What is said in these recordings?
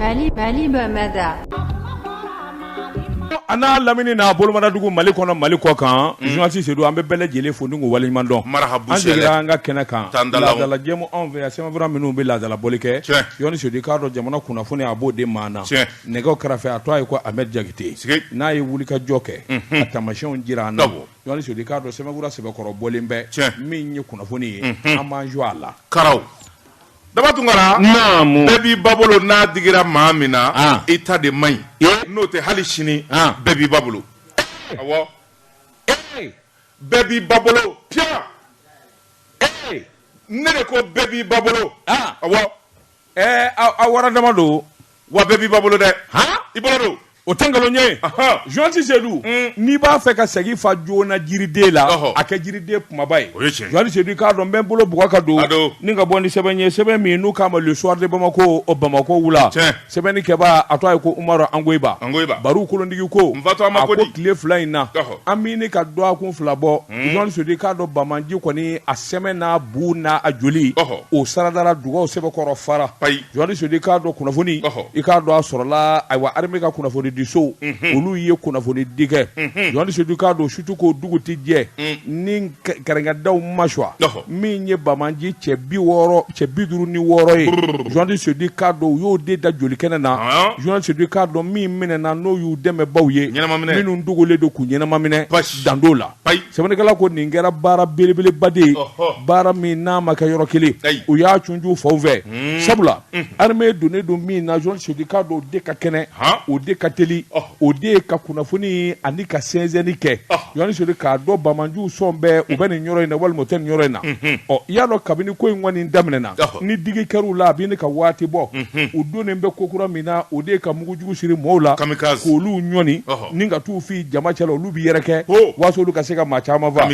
Mali Mali Bamada a n'a lamini n'a bolomadugu mali kɔnɔ mali kɔ kan journaliste Seydou an bɛ bɛɛ lajɛlen fo ni k'u waleɲumandɔn an segira an ka kɛnɛ kan laadala jɛmu anw fɛ yan sɛbɛnfura minnu bɛ laadala bɔli kɛ journaliste Seydou k'a dɔn jamana kunnafoni a b'o de maa na nɛgɛ kɛrɛfɛ a tɔgɔ ye ko amɛdi jakite n'a ye wuli ka jɔ kɛ a taamasiyɛnw jira an na journaliste Seydou k'a dɔn sɛbɛnfura sɛbɛkɔrɔ bɔlen bɛ min ye kunnafoni ye an b'an jɔ a la ka daba tunkara bɛɛ b'i ba bolo n'a digira maa min na i ta de man ɲi n'o tɛ hali sini bɛɛ b'i ba bolo awɔ bɛɛ b'i ba bolo piya ne de ko bɛɛ b'i ba bolo a wara dama don wa bɛɛ b'i ba bolo dɛ i bolo don o tɛ nkalon ye journaliste Seydou mm. n'i b'a fɛ ka segi fa joona jiriden la a kɛ jiriden kunbaba ye journaliste Seydou k'a dɔn n bɛ n bolo bugɔ ka don ni ka bɔ ni sɛbɛn ye sɛbɛn min n'u k'a ma le soir de bamako o bamako wula sɛbɛnni kɛba a tɔgɔ ye ko umaru angoyiba baru kolondigi ko a ko tile fila in na an bɛ ɲini ka dɔgɔkun fila bɔ mm. journaliste Seydou k'a dɔn banbaanci kɔni a sɛmɛ n'a bu n'a a joli o saradara dugaw sɛbɛkɔrɔ fara Seydou k'a dɔn kunnafoni i k'a dɔn a sɔrɔla ayiwa armée ka kunnafoni di so olu ye kunnafoni di kɛ journaliste Seydou k'a dɔn surtout ko dugu tɛ jɛ ni kɛrɛnkɛdaw ma suwa min ye banbaanci cɛ bi wɔɔrɔ cɛ bi duuru ni wɔɔrɔ ye journaliste Seydou k'a dɔn u y'o de da joli kɛnɛ na journaliste Seydou k'a dɔn min minɛna n'o y'u dɛmɛbaw ye minnu dogolen don k'u ɲɛnamaminɛ dan dɔw la ayi sɛbɛnnikɛla ko nin kɛra baara belebeleba de ye baara min n'a ma kɛ yɔrɔ kelen u y'a cunju faw fɛ hmm. sabula hmm. armée donnen don min na journaliste Seydou k'a dɔn o de ka kɛnɛ o de ka teli o de ye ka kunnafoni ani ka sɛnsɛnni kɛ journaliste Seydou k'a dɔn banbaanciw sɔn bɛɛ u bɛ nin yɔrɔ in na walima u tɛ nin yɔrɔ in na hmm, ɔ i y'a dɔn kabini ko in kɔni daminɛna ni digi kɛr'u la a bɛ ɲini ka waati bɔ u donnen bɛ ko kura min na o de ka mugujugu siri maaw la k'olu ɲɔni ni ka t'u fili jama cɛla olu b'i yɛrɛ kɛ oh. waasa olu ka se ka maa caman fa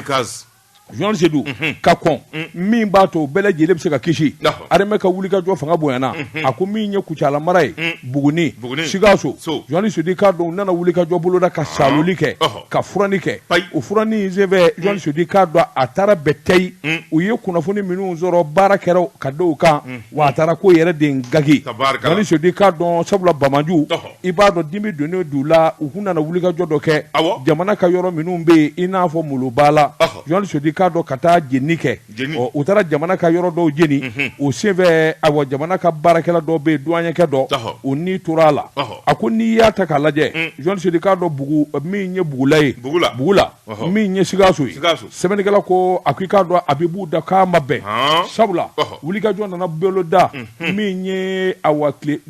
journaliste Seydou mhm. k'a dɔn mm. min b'a to bɛɛ lajɛlen bɛ se ka kisi armée ka wuli ka jɔ fanga bonyana mhm. a ko min ye kucala mara ye mm. buguni sikaso journaliste Seydou k'a dɔn u nana wuli ka jɔ boloda ka ah. saaloli kɛ ka furanni kɛ o furanni senfɛ journaliste mm. Seydou k'a dɔn a taara bɛɛ tɛyi u ye kunnafoni minnu sɔrɔ baara kɛra ka da o kan wa a taara ko yɛrɛ de gaki journaliste Seydou k'a dɔn sabula banbaanci i b'a dɔn dimi donnen d'u la u kun nana wulikajɔ dɔ kɛ jamana ka yɔrɔ minnu bɛ yen i n'a fɔ molobala jɔn sedu k'a dɔn ka taa jeni kɛ u taara jamana ka yɔrɔ dɔw jeni o senfɛ a jamana ka baarakɛla dɔw bɛ yen duanyakɛ dɔ u ni tora a la a ko n'i y'a ta k'a lajɛ jɔn sedu k'a dɔn bugu min ye bugula ye bugula min ye sikaso sɛbɛnnikɛla ko a ko i k'a dɔn a bɛ b'u da k'a ma bɛn sabula wulikajɔ nana boloda min ye awɔ tile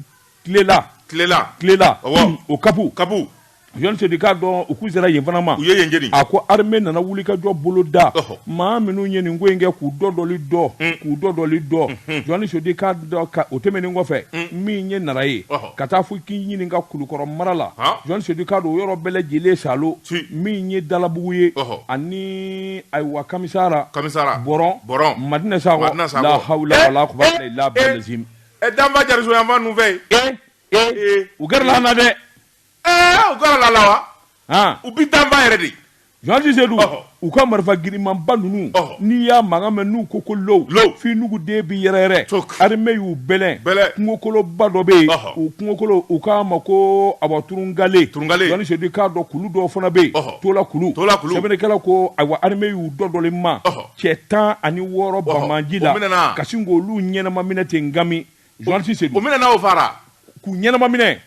tilela tilela tilela ɔwɔ o kapu kapu jɔn sedu k'a dɔn u k'u sera yen fana ma u ye yen jeni a ko armée nana wulikajɔ boloda maa minnu ye nin ko in kɛ k'u dɔdɔli dɔ hmm. k'u dɔdɔli dɔ hmm. jɔn sedu k'a dɔn o tɛmɛnen kɔfɛ hmm. min ye nara ye ka taa fo k'i ɲininka kulukɔrɔ mara la jɔn sedu k'a dɔn o yɔrɔ bɛɛ lajɛlen salo min ye dalabugu ye ani ayiwa kamisara kamisara bɔrɔn bɔrɔn madina sakɔ la hawula wala kuwata ila bilazim ɛ danfa jariso yanfan ninnu fɛ yen ee ee u gɛrɛla an na dɛ ɛɛ u gɛrɛla a la wa han u bi danfa yɛrɛ de jɔnji sedu Ɔhɔ. u ka marifa girinmanba ninnu Ɔhɔ. n'i y'a mankan mɛn n'u ko ko low Low. f'i nuguden bi yɛrɛyɛrɛ Tok. armée y'u bɛlɛn Bɛlɛn. kungokolonba dɔ bɛ yen Ɔhɔ. o kungokolon u k'a ma ko awa turungale Turungale. jɔnji sedu k'a dɔn kulu dɔw fana bɛ yen Ɔhɔ. tola kulu Tola kulu. sɛbɛnnikɛla ko ayiwa armée y'u dɔdɔlen ma Ɔhɔ. cɛ tan ani wɔɔrɔ bamanji la ka sin k'olu ɲɛnama minɛ ten ngami journaliste sedu o minɛ n'aw fara k'u ɲɛnama minɛ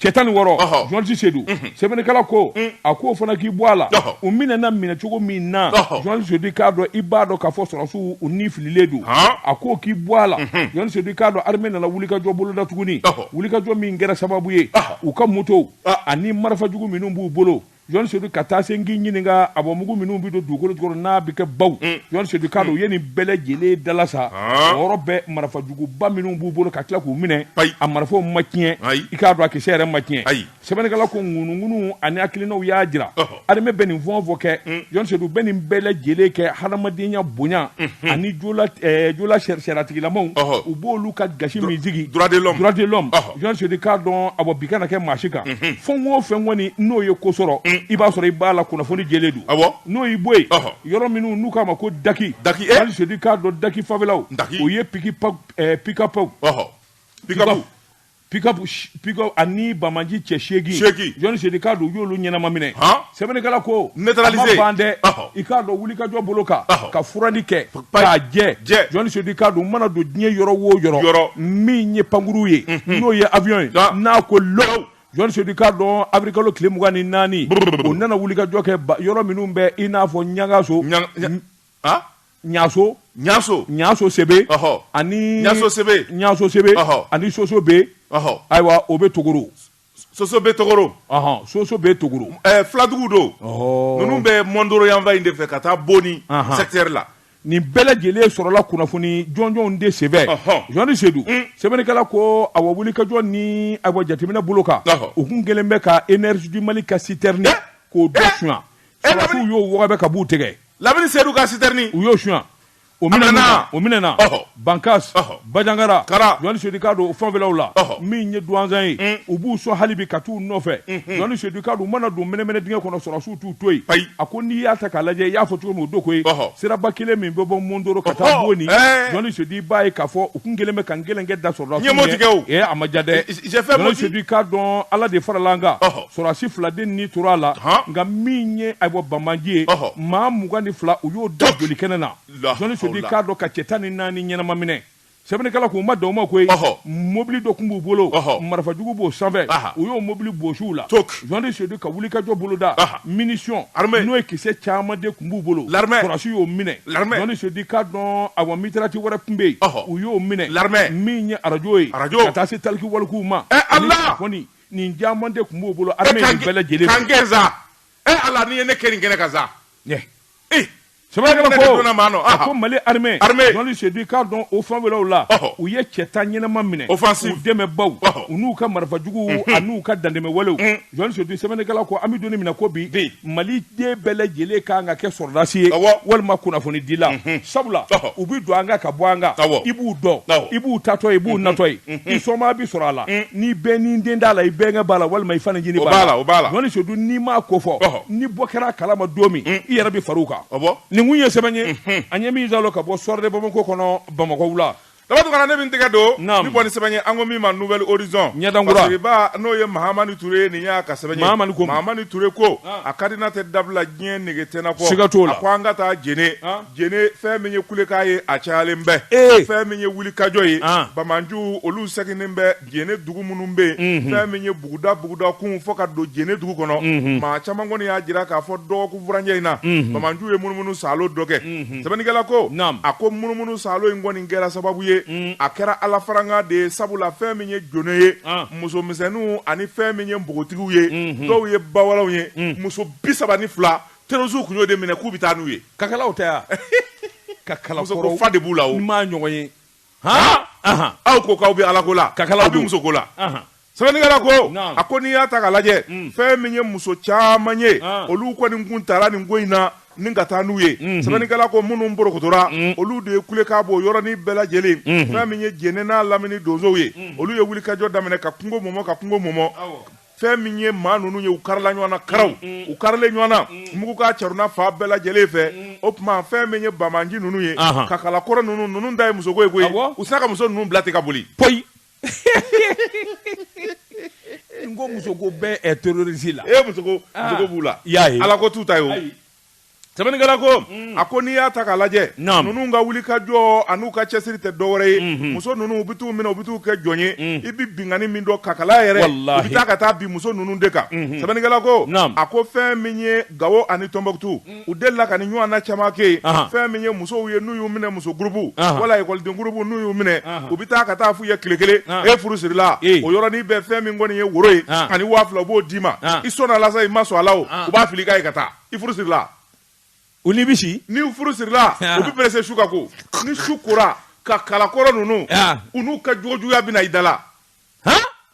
cɛ tan ni wɔɔrɔ journaliste sedu mhm. sɛbɛnnikɛla ko mm. a k'o fana k'i bɔ a la u minɛna minɛcogo min na journaliste sedu k'a dɔn i b'a dɔn k'a fɔ sɔrɔdasiw u ni fililen don a k'o k'i bɔ a la journaliste mhm. sedu k'a dɔn armée nana wulikajɔ boloda tuguni wulikajɔ min kɛra sababu ye u ka motow ani marifa jugu minnu b'u bolo Jɔn sedu ka taa se k'i ɲininka a bɔ mugu minnu bɛ don dugukolo jukɔrɔ n'a bɛ kɛ baw mm. jɔn sedu k'a dɔn mm. u ye nin bɛɛ lajɛlen dalasa ah. yɔrɔ bɛɛ marifajuguba minnu b'u bolo ka tila k'u minɛ a marifaw ma tiɲɛ i k'a dɔn a kisɛ yɛrɛ ma tiɲɛ sɛbɛnnikɛla ko ŋunuŋunu ani hakilinaw y'a jira armée bɛ nin fɛn o fɛn kɛ mm. jɔn sedu bɛ nin bɛɛ lajɛlen kɛ hadamadenya bonya mm-hmm. ani jola eh, sariyatigilamaw u b'olu ka gasi min sigi droit de l'homme Sedu k'a dɔn a bi kana kɛ maa si kan fɛn o fɛn kɔni n'o ye ko sɔrɔ i b'a sɔrɔ i b'a la kunnafoni jɛlen don n'o y'i bɔ yen yɔrɔ minnu n'u k'a ma ko daki daki sedu k'a dɔn daki fanfɛlaw daki o ye pick-up pick-up ani bamaji cɛ seegin sedu k'a dɔn y'olu ɲɛnama minɛ sɛbɛnnikɛla ko neutraliser ban dɛ i k'a dɔn wulikajɔ bolo kan ka furanni kɛ k'a jɛ jɔni sedu i k'a dɔn mana don diɲɛ yɔrɔ wo yɔrɔ min ye pankuru ye mhm. n'o ye avion ye n'a ko lɔw jɔni sedu i k'a dɔn awirilikalo tile mugan ni naani o nana wulikajɔ kɛ yɔrɔ minnu bɛ i n'a fɔ ɲangaso ɲaso ɲaso ɲaso sebe ani ɲaso sebe ɲaso sebe ani soso be ayiwa o bɛ togoro soso be togoro soso be togoro filadugu don ninnu bɛ mondoro yanfan in de fɛ ka taa boni secteur la nin bɛɛ lajɛlen sɔrɔla kunnafoni jɔnjɔnw de senfɛ jɔni sedu sɛbɛnnikɛla ko a wulikajɔ ni a jateminɛ bolo kan u tun kɛlen bɛ ka énergie du mali ka citerne k'o dɔ suɲɛ u y'o wɔgɔbɛ ka b'u tɛgɛ lamini sedu ka citerne u y'o su O minɛna bankas banjagara jɔni sedu i k'a dɔn fanfɛlaw la min ye duwanza ye u b'u sɔn hali bi ka taa u nɔfɛ jɔni sedu i k'a dɔn u mana don mɛnɛmɛnɛ dingɛ kɔnɔ sɔrɔdasiw t'u to yen a ko n'i y'a ta k'a lajɛ i y'a fɔ cogo min o don koyi siraba kelen min bɛ bɔ mondoro ka taa boni jɔni sedu i b'a ye k'a fɔ u tun kɛlen bɛ ka gɛlɛnkɛ da sɔrɔdasiw ye a ma ja dɛ sedu i k'a dɔn ala de farala an kan sɔrɔdasi fila de ni tora a la nka min ye ayiwa banbaanci ye maa mugan ni fila u y'o da joli kɛnɛ na jɔni sedu i k'a dɔn ka cɛ tan ni naani ɲɛnama minɛ sɛbɛnnikɛla k'u ma dan o ma koyi mobili dɔ tun b'u bolo marifajugu b'o sanfɛ u y'o mobili bɔsi u la jɔni sedu ka wulikajɔ boloda munition n'o ye kisɛ caman de tun b'u bolo sɔrɔdasi y'o minɛ L'armée. Jɔni Sedu i k'a dɔn awɔ mitraillette wɛrɛ tun bɛ yen, ɔhɔ, u y'o minɛ, l'armée, min ye arajo ye, arajo, ka taa se taliki walikiw ma, e Ala, ani telefɔni, nin caman de tun b'u bolo armée nin bɛɛ lajɛlen, k'an gɛn sa, e Ala n'i ye ne kɛ nin kɛnɛ kan sa, ɲɛ, e sɛbɛnnikɛla ko a ko Mali armée Jɔni Sedu i k'a dɔn o fanfɛlaw la u ye cɛ tan ɲɛnama minɛ u dɛmɛbaaw u n'u ka marifajuguw an'u ka dantɛmɛwalew jɔni sedu sɛbɛnnikɛla ko an bɛ don min na i ko bi maliden bɛɛ lajɛlen ka kan ka kɛ sɔrɔdasi ye walima kunnafonidila mhm. sabula u bɛ don an kan ka bɔ an kan i b'u dɔn i b'u taatɔ ye i b'u mhm. natɔ ye mhm. i somaa bɛ sɔrɔ a la n'i bɛɛni den t'a la i bɛnkɛ b'a la walima i fancinin b'a la jɔni sedu n'i m'a ko fɔ ni bɔ kɛra a kalama don min i yɛrɛ bɛ fara u kan nin kun ye sɛbɛn ye an ye min zalo ka bɔ soir de bamakɔ kɔnɔ bamakɔ wula Dabato kana ne min tɛgɛ don ni bɔ sɛbɛn ye an ko min ma nouvel horizon ɲɛdankura n'o ye mahamani ture nin y'a ka sɛbɛn ye mahamani ture ko a kari n'a tɛ dabila diɲɛ nege tɛna ko ka to la ko an ka taa jɛne jɛne fɛn min ye kulekan ye a cayalen bɛ fɛn min ye wulikajɔ ye banbaanciw olu seginnen bɛ jɛnɛ dugu minnu bɛ yen fɛn min ye buguda buguda kun fo ka don jɛnɛ dugu kɔnɔ maa caman kɔni y'a jira k'a fɔ dɔgɔkun furancɛ in na banbaanciw ye munumunu saalo dɔ kɛ sɛbɛnnikɛla ko a ko munumunu saalo in kɔni kɛra sababu ye a kɛra ala farankan de ye sabu la fɛn min ye jɛnɛ ye musomisɛnninw ani fɛn min ye npogotigiw ye dɔw ye bawalaw ye muso bi saba ni fila terroristes kun y'o de minɛ k'u bɛ taa n'u ye kakalaw tɛ yan kakala fa de b'u la n m'u ɲɔgɔn ye aw ko k'aw bɛ ala ko la kakalaw bɛ muso ko la sɛbɛnnikɛla ko a ko n'i y'a ta k'a lajɛ mm. fɛn min ye muso caman ye olu kɔni kun taara nin ko in na ni ka taa n'u ye mm-hmm. sɛbɛnnikɛla ko minnu porokotora mm. olu de ye kulekan bɔ yɔrɔnin bɛɛ lajɛlen mm-hmm. fɛn min ye jɛnɛ n'a lamini donsow ye mm. olu ye wulikajɔ daminɛ ka kungo mɔmɔ ka kungo mɔmɔ fɛn min ye maa ninnu ye u karila ɲɔgɔn na karaw mm, mm. u karilen ɲɔgɔn na mm. mugukan caruna fan bɛɛ lajɛlen fɛ o tuma fɛn min ye banbaanci ninnu ye kakalakɔrɔ ninnu ninnu dan ye muso ko ye koyi u sina ka muso ninnu bila ten ka boli poyi n ko muso ko bɛ terroriste la e muso ko ah. muso ko b'u la i y'a ye ala ko t'u ta ye o Sɛbɛnnikɛla ko a ko n'i y'a ta k'a lajɛ ninnu ka wulikajɔ an'u ka cɛsiri tɛ dɔwɛrɛ ye muso ninnu u bɛ t'u minɛ u bɛ t'u kɛ jɔn ye i bɛ binkanni min dɔn kakala yɛrɛ u bɛ taa ka taa bin muso ninnu de kan sɛbɛnnikɛla ko a ko fɛn min ye gawo ani tɔnbɔkutu u delila ka nin ɲɔgɔnna caman kɛ fɛn min ye musow ye n'u y'u minɛ muso gurupu wala ekɔliden gurupu n'u y'u minɛ u bɛ taa ka taa f'u ye tile kelen e furu sirila o yɔrɔnin bɛɛ fɛn min kɔni ye woro ye ani waa fila u b'o d'i ma i sɔn i ma sɔn a la u b'a fili ka ye ka taa i furu sirila u ni bisi ni furu sirila ah. u bɛ perese su ka ko ni su kora kakalakɔrɔ ninnu ah. u n'u ka jogojuguya bɛna i da la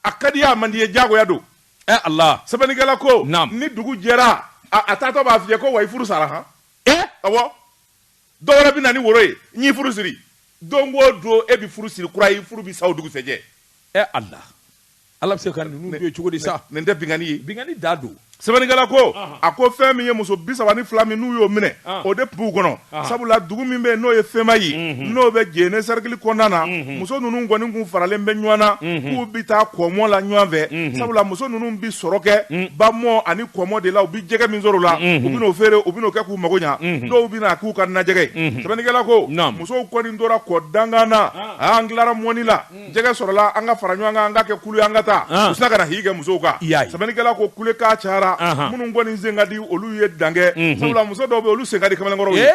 a ka d'i ye a man d'i ye diyagoya don ɛ eh, ala sɛbɛnnikɛla ko ni dugu jɛra a taatɔ b'a f'i ye ko wa i furu sara han eh? awɔ dɔ wɛrɛ bɛ na ni woro ye n y'i furu siri don o don e bɛ furu siri kura ye furu bɛ sa o dugusɛjɛ ɛ ala ala bɛ se ka ninnu dɔn cogo di sa nin tɛ binkanni ye binkanni dan don sɛbɛnnikɛla ko a ko fɛn min ye muso bi saba ni fila min n'u y'o minɛ o de tun b'u kɔnɔ sabula dugu min bɛ yen n'o ye fɛnma ye n'o bɛ jɛnɛ sɛrikili kɔnɔna na muso ninnu kɔni kun faralen bɛ ɲɔgɔn na k'u bɛ taa kɔmɔ la ɲɔgɔn fɛ sabula muso ninnu bɛ sɔrɔ kɛ ba mɔ ani kɔmɔ de la u bɛ jɛgɛ min sɔrɔ la u bɛn'o feere u bɛn'o kɛ k'u mago ɲɛ dɔw bɛn'a k'u ka najɛgɛ sɛbɛnnikɛla ko musow kɔni tora kɔ dankan na an tilara mɔni la jɛgɛ sɔrɔla an ka fara ɲɔgɔn kan an ka kɛ kulu an ka taa u sina ka na i kɛ musow kan sɛbɛnnikɛla ko kulekan cara minnu kɔni sen ka di olu ye dan kɛ sabula muso dɔw bɛ olu sen ka di kamalenkɔrɔw ye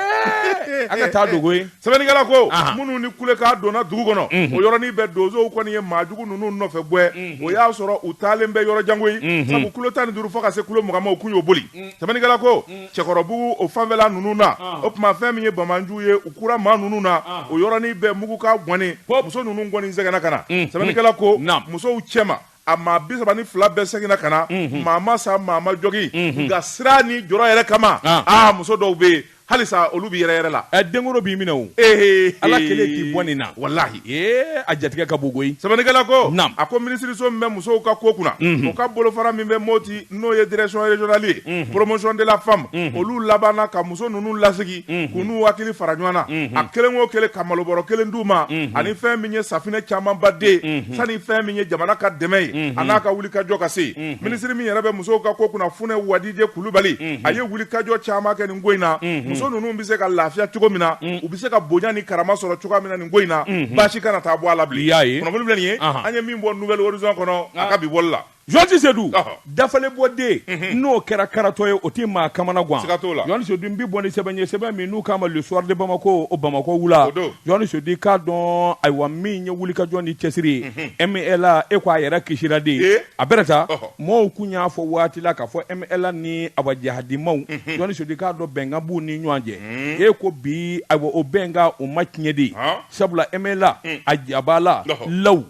an ka taa dogo Sɛbɛnnikɛla ko minnu ni kulekan donna dugu kɔnɔ o yɔrɔnin bɛɛ donsow kɔni ye maajugu ninnu nɔfɛ gɛn o y'a sɔrɔ u taalen bɛ yɔrɔ jan koyi sabu kilo tan ni duuru fo ka se kilo mugan ma u tun y'o boli sɛbɛnnikɛla ko Cɛkɔrɔbugu o fanfɛla ninnu na o tuma fɛn min ye banbaanciw ye u kura maa ninnu na o yɔrɔnin bɛɛ mugukan kɔni muso ninnu kɔni seginna ka na sɛbɛnnikɛla ko musow cɛ a maa bi saba ni fila bɛɛ seginna ka na maa ma sa maa ma jogin nka siran ni jɔrɔ yɛrɛ kama aa muso dɔw bɛ yen halisa olu bɛ yɛrɛyɛrɛ la ɛ denkoro b'i minɛ o ee ala kelen k'i bɔ nin na walahi ee a jatigɛ ka bon koyi sɛbɛnnikɛla ko Naamu. a ko minisiriso min bɛ musow ka ko kunna o ka bolofara min bɛ Moti n'o ye direction régionale ye promotion de la femme olu labanna ka muso ninnu lasigi u n'u hakili fara ɲɔgɔn na a kelen o kelen ka malobɔrɔ kelen d'u ma ani fɛn min ye safinɛ camanba de sani fɛn min ye jamana ka dɛmɛ ye a n'a ka wulikajɔ ka se minisiri min yɛrɛ bɛ musow ka ko kunna Funɛ Wadijɛ Kulubali a ye wulikajɔ caman kɛ nin ko in na muso ninnu bɛ se ka lafiya cogo min na u bɛ se ka bonya ni karama sɔrɔ cogoya min na nin ko in na baasi kana taa bɔ a la bilen kunnafoni filɛ nin ye an ye min bɔ Nouvel Horizon kɔnɔ a ka bi bɔli la Jɔnti Sedu dafalen bɔ den mhm. n'o kɛra karatɔ ye o tɛ maa kamana gan Jɔnti Sedu n bɛ bɔ ni sɛbɛn ye sɛbɛn min n'u k'a ma Le Soir de Bamako o bamakɔ wula Jɔnti Sedu k'a dɔn ayiwa min ye wulikajɔ ni cɛsiri mhm. MNLA e ko a yɛrɛ kisisira de ye a bɛ taa maaw tun y'a fɔ waati la k'a fɔ MLA ni awa jihadi maaw mhm. Jɔnti Sedu k'a dɔn bɛnkan b'u ni ɲɔgɔn cɛ e ko bi ayiwa o bɛnkan o ma tiɲɛ de sabula MLA a jaba la law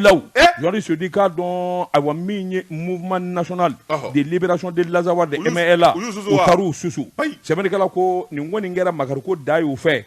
law Jɔnti Sedu k'a dɔn ayiwa min ye mouvement national de libération de l'Azawad MLA u taar'u susu sɛbɛnnikɛla ko nin kɔni kɛra makari ko da y'u fɛ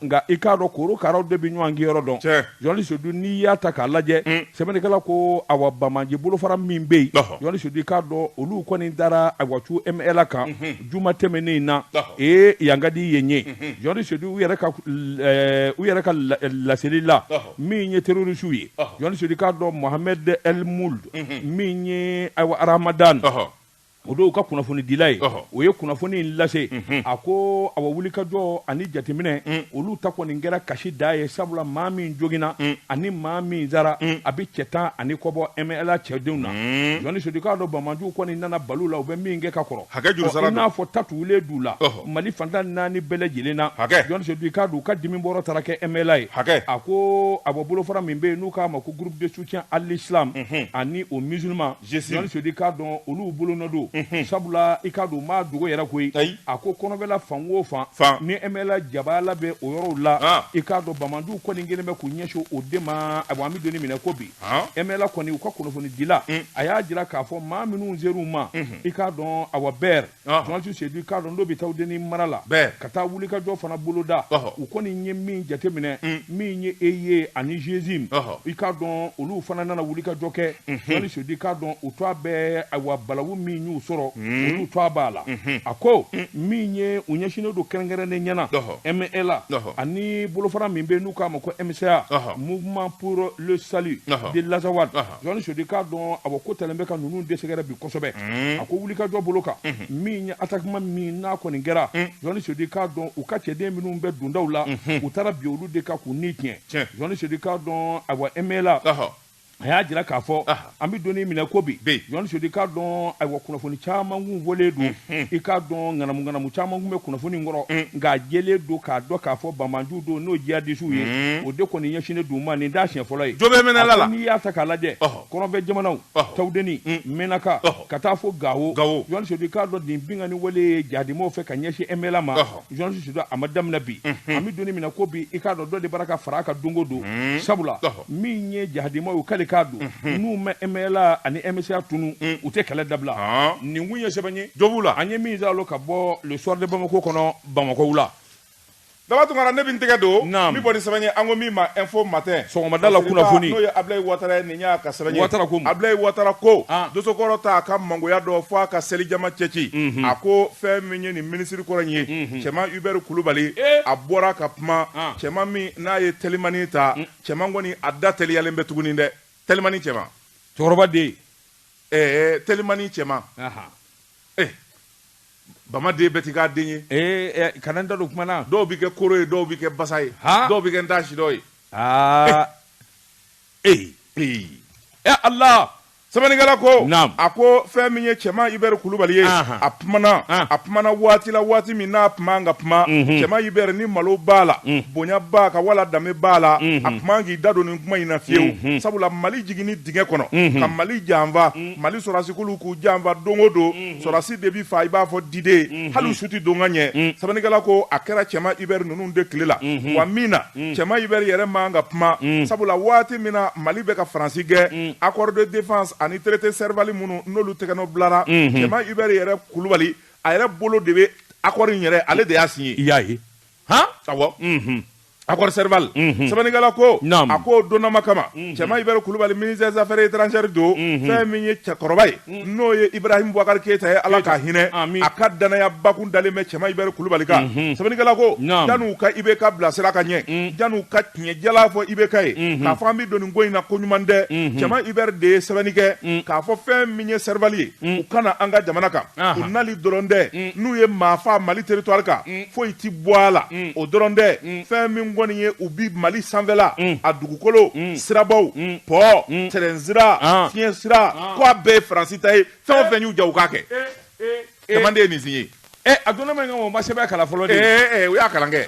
nka i k'a dɔn korokaraw de bɛ ɲɔgɔn kinyɔrɔ dɔn Jɔnti Sedu n'i y'a ta k'a lajɛ sɛbɛnnikɛla ko awa banbaanci bolofara min bɛ yen Jɔnti Sedu k'a dɔn olu kɔni dara awa cu MLA kan juma tɛmɛnen in na ee yan ka di yen ye Jɔnti Sedu u yɛrɛ ka laseli la min ye terroristes ye Jɔnti Sedu k'a dɔn Mohamed El Mould min ye ayiwa Ramadan o don u ka kunnafonidila ye o ye kunnafoni in lase a ko awa wulikajɔ ani jateminɛ olu ta kɔni kɛra kasi da ye sabula maa min joginna ani maa min sara a bɛ cɛ tan ani kɔbɔ MLA cɛdenw na Jɔnti Sedu k'a dɔn banbaanciw kɔni nana bal'u la u bɛ min kɛ ka kɔrɔ i n'a fɔ ta tugulen d'u la. Mali fan tan ni naani bɛɛ lajɛlen na hakɛ Jɔnti Sedu k'a dɔn u ka dimi bɔrɔ taara kɛ MLA ye hakɛ a ko awa bolofara min bɛ yen n'u k'a ma ko groupe de soutien à l'islam ani aux musulmans Jɔnti Sedu k'a dɔn olu bolo nɔ don sabula i k'a dɔn a ma dogo yɛrɛ koyi ayi a ko kɔrɔnfɛla fan o fan fan ni MLA jaba la bɛ o yɔrɔw la i k'a dɔn banbaanciw kɔni kɛlen bɛ k'u ɲɛsin o de ma a an bɛ don min na ko bi MLA kɔni u ka kunnafonidila a y'a jira k'a fɔ maa minnu ser'u ma i k'a dɔn a bɛɛ journaliste Sedu i k'a dɔn n'o bɛ Tawudeni mara la ka taa wulikajɔ fana boloda u kɔni ye min jateminɛ min ye EI ani GSIM i k'a dɔn olu fana nana wulikajɔ kɛ journaliste Sedu i k'a dɔn u twa bɛ ayiwa balawu min y'u sɔrɔ olu twa b'a la a ko min ye u ɲɛsinnen don kɛrɛnkɛrɛnnenya la MNLA ani bolofara min bɛ yen n'u k'a ma ko MSA mouvement pour le salut de l'Azawad journaliste Sedu i k'a dɔn a ko talen bɛ ka ninnu de sɛgɛrɛ bi kosɛbɛ a ko wulikajɔ bolo kan min ye atakima min n'a kɔni kɛra journaliste Sedu i k'a dɔn u ka cɛden minnu bɛ dondaw la u taara bin olu de kan k'u ni tiɲɛ journaliste Sedu i k'a dɔn ayiwa MNLA a y'a jira k'a fɔ an bɛ don min na ko bi journaliste Sedu i k'a dɔn ayiwa kunnafoni caman kun fɔlen don Hmm. i k'a dɔn ŋanamuŋanamu caman kun bɛ kunnafoni in kɔrɔ hmm. nka jɛlen don k'a dɔn k'a fɔ banbaanciw don n'o jihadisiw ye hmm. o de kɔni ɲɛsinnen don u ma nin t'a siɲɛ fɔlɔ ye jo bɛ MNLA la n'i y'a ta k'a lajɛ kɔrɔnfɛ jamanaw tawudeni mɛnaka ka taa fo gawo journaliste Sedu i k'a dɔn nin binkanni wale ye jihadimaw fɛ ka ɲɛsin MNLA ma journaliste Sedu a ma daminɛ bi an bɛ don min na ko bi i k'a dɔn dɔ de bara ka fara a kan don o don sabula min ye jihadimaw ye kalikan don n'u ma MNLA ani MSA tunu u tɛ kɛlɛ dabila nin kun ye sɛbɛn ye dɔ b'u la an ye min s'a lo ka bɔ le soir de bamako kɔnɔ bamako wula Daba Tunkara ne bɛ n tɛgɛ don n bɛ bɔ ni sɛbɛn ye an ko min ma info matin sɔgɔmada la kunnafoni n'o ye Abilaye Watara ye nin y'a ka sɛbɛn ye Watara ko Abilaye Watara ko dosokɔrɔ t'a ka mangoya dɔn f'a ka selijama cɛci a ko fɛn min ye nin minisiri kɔrɔ in ye cɛman Hubert Kulubali a bɔra ka kuma cɛman min n'a ye telimanin ta mm. cɛman kɔni a da teliyalen bɛ tuguni dɛ telimanin cɛman cɛkɔrɔba den ɛɛ telimanin cɛman eh bama den bɛɛ ti k'a den ye ee eh, eh, kana n da don kuma na dɔw bɛ kɛ koro ye dɔw bɛ kɛ basa ye dɔw bɛ kɛ n t'a sidɔ ye aa ee ee ee ala Sɛbɛnnikɛla ko a ko fɛn min ye cɛman Hubert Kulubali ye a kumana a kumana waati la waati min na a kun man ka kuma cɛman Hubert ni malo b'a la bonya b'a kan wala danbe b'a la a kun man k'i da don nin kuma in na fiyewu sabula Mali jiginni dingɛ kɔnɔ ka Mali janfa Mali sɔrɔdasi kuluw k'u janfa don o don sɔrɔdasi de bi fa i b'a fɔ diden hali su tɛ don ka ɲɛ sɛbɛnnikɛla ko a kɛra cɛman Hubert ninnu de tile la wa min na cɛman Hubert yɛrɛ man ka kuma sabula waati min na mali bɛ ka faransi gɛn accord de défense ani traité Serval minnu n'olu tɛgɛnɔ bilara cɛman Hubert yɛrɛ kulubali a yɛrɛ bolo de bɛ accord in yɛrɛ ale de y'a signé i y'a ye han awɔ unhun accord Serval unhun sɛbɛnnikɛla ko naam a ko donnama kama Cɛman Hubert Kulubali ministre des affaires étrangères don fɛn min ye cɛkɔrɔba ye n'o ye Ibrahim Boubacar Keita ye Ala k'a hinɛ Amin. a ka danaya bakun dalen bɛ Cɛman Hubert Kulubali kan sɛbɛnnikɛla ko Naam. janni u ka IBK bila sira ka ɲɛ janni u ka tiɲɛ jalan fɔ IBK ye k'a fɔ an bɛ don nin ko in na ko ɲuman tɛ Cɛman Hubert de ye sɛbɛnni kɛ k'a fɔ fɛn min ye Serval ye u ka na an ka jamana kan Aha. u nali dɔrɔn tɛ n'u ye maa faa Mali territoire kan foyi tɛ bɔ a la mm. o dɔrɔn tɛ mm. fɛn min kɔni ye u bi mali sanfɛla mm. a dugukolo sirabaw pɔ tɛrɛn sira ah. fiɲɛ sira ah. ko a bɛɛ ye faransi ta ye fɛn o eh. fɛn y'u ja u k'a kɛ eh, eh, jamanaden ye nin signé Eh, a donna ma nka o ma sɛbɛn kalan fɔlɔ de ye eh, eh, u y'a kalan kɛ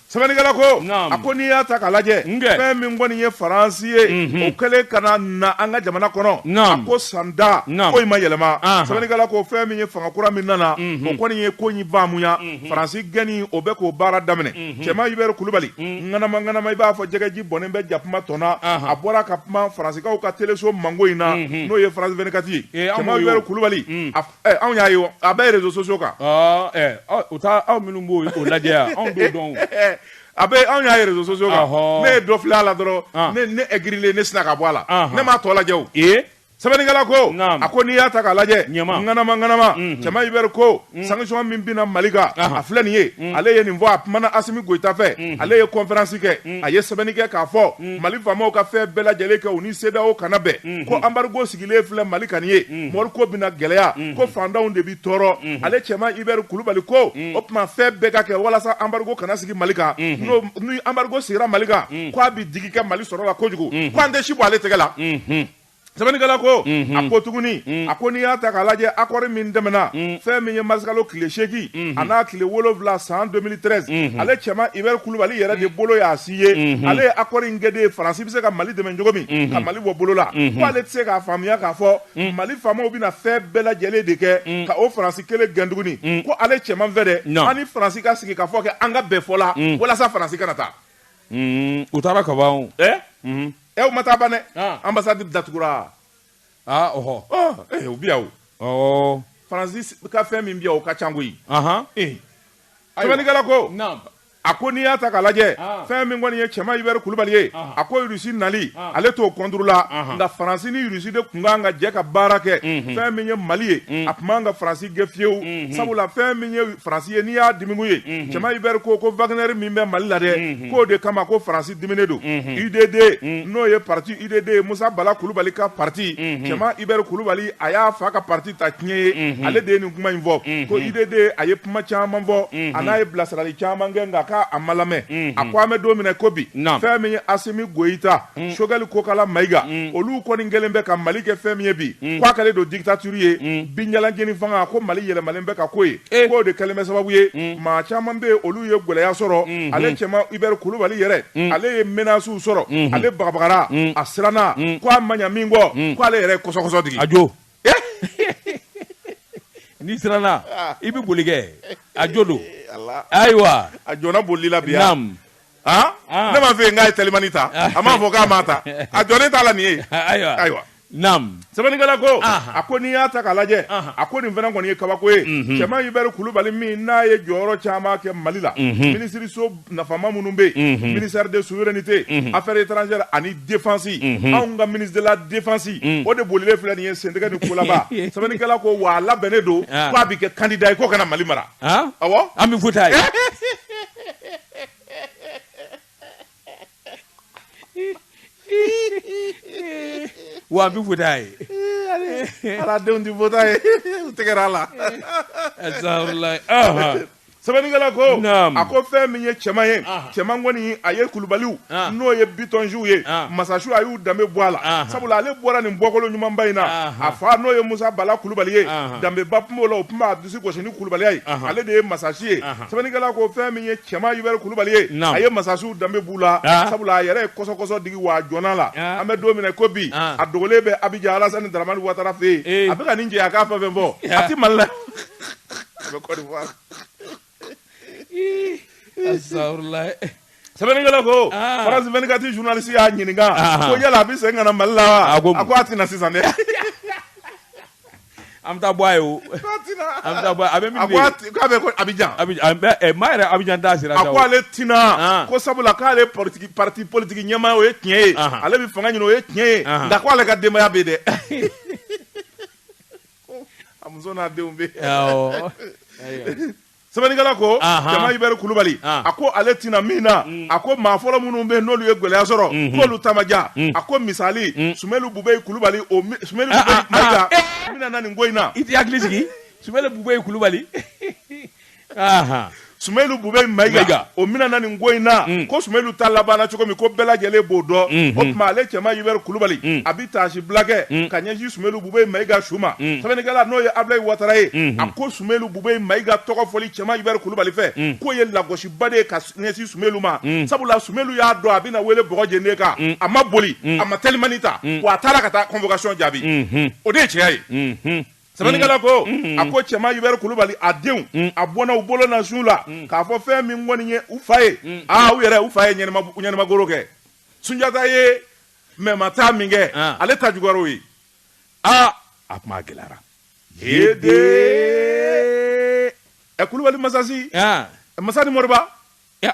sɛbɛnnikɛla ko a ko n'i y'a ta k'a lajɛ fɛn min kɔni ye faransi ye mhm. o kɛlen ka na na an ka jamana kɔnɔ a ko san da ko in ma yɛlɛma sɛbɛnnikɛla ko fɛn min ye fanga kura min nana o kɔni ye ko in faamuya faransi gɛnni o bɛ k'o baara daminɛ cɛman Hubert kulubali ŋanamaŋanama i b'a fɔ jɛgɛji bɔnnen bɛ jakuma tɔn na a bɔra ka kuma faransikaw ka teleso mango in na n'o ye France 24 ye cɛman Hubert kulubali anw y'a ye a bɛ réseaux sociaux kan u taa aw minnu b'o lajɛ yan anw t'o dɔn A bɛ anw y'a ye réseaux sociaux kan ne ye dɔ filɛ a la dɔrɔn ne aigrilen ne sinna ka bɔ a la ne m'a tɔ lajɛ sɛbɛnnikɛla ko a ko n'i y'a ta k'a lajɛ ŋanamaŋanama cɛman Hubert ko sanction min bɛna mali kan a filɛ nin ye ale ye nin fɔ a kumana Asimi Goyita fɛ ale ye conférence kɛ a ye sɛbɛnni kɛ k'a fɔ mali faamaw ka fɛn bɛɛ lajɛlen kɛ u ni CEDEAO ka na bɛn ko embargo sigi sigilen filɛ mali kan nin ye mm. mori ko bɛna gɛlɛya mm. ko fantanw de bi tɔɔrɔ mm-hmm. ale cɛman Hubert kulubali ko mm. o tuma fɛn bɛɛ ka kɛ walasa embargo kana sigi mali kan mm-hmm. ni embargo sigira mali kan ko a bi digi kɛ mali sɔrɔ la kojugu mm-hmm. ko an tɛ si bɔ ale tɛgɛ la sɛbɛnnikɛla ko mhm. a ko tuguni mhm. a ko n'i y'a ta k'a lajɛ accord min tɛmɛna mhm. fɛn min ye marisikalo tile seegin a n'a tile wolonwula san 2013 ale cɛman Hubert kulubali yɛrɛ de bolo y'a signé ale ye accord in kɛ de faransi bɛ se ka Mali dɛmɛ cogo min, unhun, ka Mali bɔ bolo la, unhun, k'ale tɛ se k'a faamuya k'a fɔ un, Mali faamaw bɛna fɛn bɛɛ lajɛlen de kɛ un, ka o Faransi kelen gɛn tuguni un, ko ale Cɛman fɛ dɛ, non, an ni Faransi ka sigi ka fɔ kɛ an ka bɛn fɔ la un, walasa Faransi kana taa, un, u taara ka ban o, ɛ, unhun, ɛ u ma taa ban dɛ, ah. ambassade datugura, ah ɔhɔ, ɔ, eh, u bɛ yan o, ɔɔ, Faransi ka fɛn min bɛ yan o ka ca koyi, anhan, eh, sɛbɛnnikɛla ko, naamu. A ko n'i y'a ta ka lajɛ fɛn min kɔni ye cɛman Hubert kulubali ye a ko Rusi nali ale t'o contre la nka faransi ni Rusi de tun kan ka jɛ ka baara kɛ fɛn min ye mali ye a tun man ka faransi gɛn fiyewu sabula fɛn min ye faransi ye n'i y'a dimikun ye cɛman Hubert ko ko Wagner min bɛ mali la dɛ k'o de kama ko faransi diminen don UDD n'o ye pati UDD ye musa bala kulubali ka pati cɛman Hubert kulubali a y'a fa ka pati ta tiɲɛ ye ale de ye nin kuma in fɔ ko UDD a ye kuma caman fɔ a n'a ye bilasirali caman kɛ nka k'a ma lamɛn a ko an bɛ don min na i ko bi fɛn min ye asimi goyita sokɛli kokala mayiga olu kɔni kɛlen bɛ ka mali kɛ fɛn min ye bi k'a kɛlen don dictature ye binjalanjeni fanga ko mali yɛlɛmalen bɛ ka k'o ye k'o de kɛlen bɛ sababu ye maa caman bɛ olu ye gɛlɛya sɔrɔ ale cɛman ibɛri kulubali yɛrɛ ale ye menaces sɔrɔ ale bagabagara a siranna ko a ma min kɔ k'ale yɛrɛ ye kɔsɔkɔsɔ digi a jo n'i siranna i bɛ boli kɛ a jo don ayiwa a jɔna boli la bi yan ne m'a fɛ n k'a ye telimani ta a m'a fɔ k'a m'a ta a jɔ ne t'a la nin ye ayiwa ayiwa naamu sɛbɛnnikɛla ko a ko n'i y'a ta k'a lajɛ a ko nin fana kɔni ye kabako ye cɛman Ibɛri Kulubali min n'a ye jɔyɔrɔ caman kɛ Mali la minisiriso nafama minnu bɛ yen ministère de souveraineté affaires étrangères ani défense anw ka ministre de la défense o de bolilen filɛ nin ye sentɛgɛ ni kolaba sɛbɛnnikɛla ko wa a labɛnnen don k'a bɛ kɛ kandida ye ko ka na mali mara awɔ an bɛ futa ye wa an bɛ futa ye ala denw tɛ futa ye u tɛgɛra a la sɛbɛnnikɛla ko a ko fɛn min ye cɛman ye cɛman kɔni a ye kulubaliw n'o ye bitɔnsiw ye masasiw a y'u danbe bɔ a la sabula ale bɔra nin bɔkolo ɲumanba in na a fa n'o ye musa bala kulubali ye danbeba tun b'o la o tun b'a disi gosi ni kulubaliya ye ale de ye masasi ye sɛbɛnnikɛla ko fɛn min ye cɛman Ibɛri Kulubali ye, naamu, a ye masasiw danbe b'u la, an, sabula a yɛrɛ ye kɔsɔkɔsɔ digi wa a jɔnna la, an, an bɛ don min na i ko bi, an, a dogolen bɛ Abijan Alasani Daramani Watara fɛ yen, ee, a bɛ ka nin jɛ a k'a fɛn o fɛn fɔ, a tɛ Mali la, a bɛ Kɔdiwari. Ii, asafurulayi. sɛbɛnnikɛla ko ah. France 24 journaliste y'a ɲininka ah. ko yala a bɛ segin ka na Mali la wa a ko a tɛna sisan dɛ an bɛ taa bɔ a ye o an bɛ taa bɔ a bɛ min bɛ yen k'a bɛ ko Abidjan eh, maa yɛrɛ Abidjan t'a sira a ko ale tɛna ah. ko sabula k'ale parti politiki ɲɛmaa o ye tiɲɛ ye ale bɛ fanga ɲini o ye tiɲɛ ye nka ko ale ka denbaya bɛ yen dɛ a muso n'a denw bɛ yen sɛbɛnnikɛla ko Ahan. cɛman ibɛri kulubali Ah. a ko ale tɛna min na a ko maa fɔlɔ minnu bɛ yen n'olu ye gɛlɛya sɔrɔ k'olu ta ma diya a ko misali sumelu bubɛyi kulubali o mi- sumelu Ah, bubɛyi ah, mayiga ah, eh. o minɛna nin ko in na i tɛ hakili sigi sumelu bubɛyi kulubali Ahan. sumelu bubɛyi Mayiga. mayiga o minɛna nin ko in na Mm. ko sumelu ta labanna cogo min ko bɛɛ lajɛlen b'o dɔn Mhm. o tuma ale cɛman ibɛri kulubali Mm. a bɛ taasi bila kɛ Mm. ka ɲɛsin sumelu bubɛyi mayiga su ma Mm. sɛbɛnnikɛla n'o ye abulayi watara ye Mhm. a ko sumelu ubɛ mayiga tɔgɔ fɔli cɛman ubɛri kulubali fɛ k'o ye lagosiba de ye ka ɲɛsin sumɛlu ma sabula sumɛlu y'a dɔn a bɛna wele bɔjden kan a ma boli a ma telimani ta wa a taara ka taa convocation jaabi o de ye cɛya ye sɛbɛnnikɛla ko a ko cɛman ubɛri kulubali a denw a bɔnna u bolo na su la k'a fɔ fɛn min kɔni ye u fa ye aaa u yɛrɛ u fa ye ɲamakoro kɛ sunjata ye mɛ ma taa min kɛ ale ta jukɔrɔ ye aa a kuma gɛlɛyara ɛ kulubali masasi masa ni moriba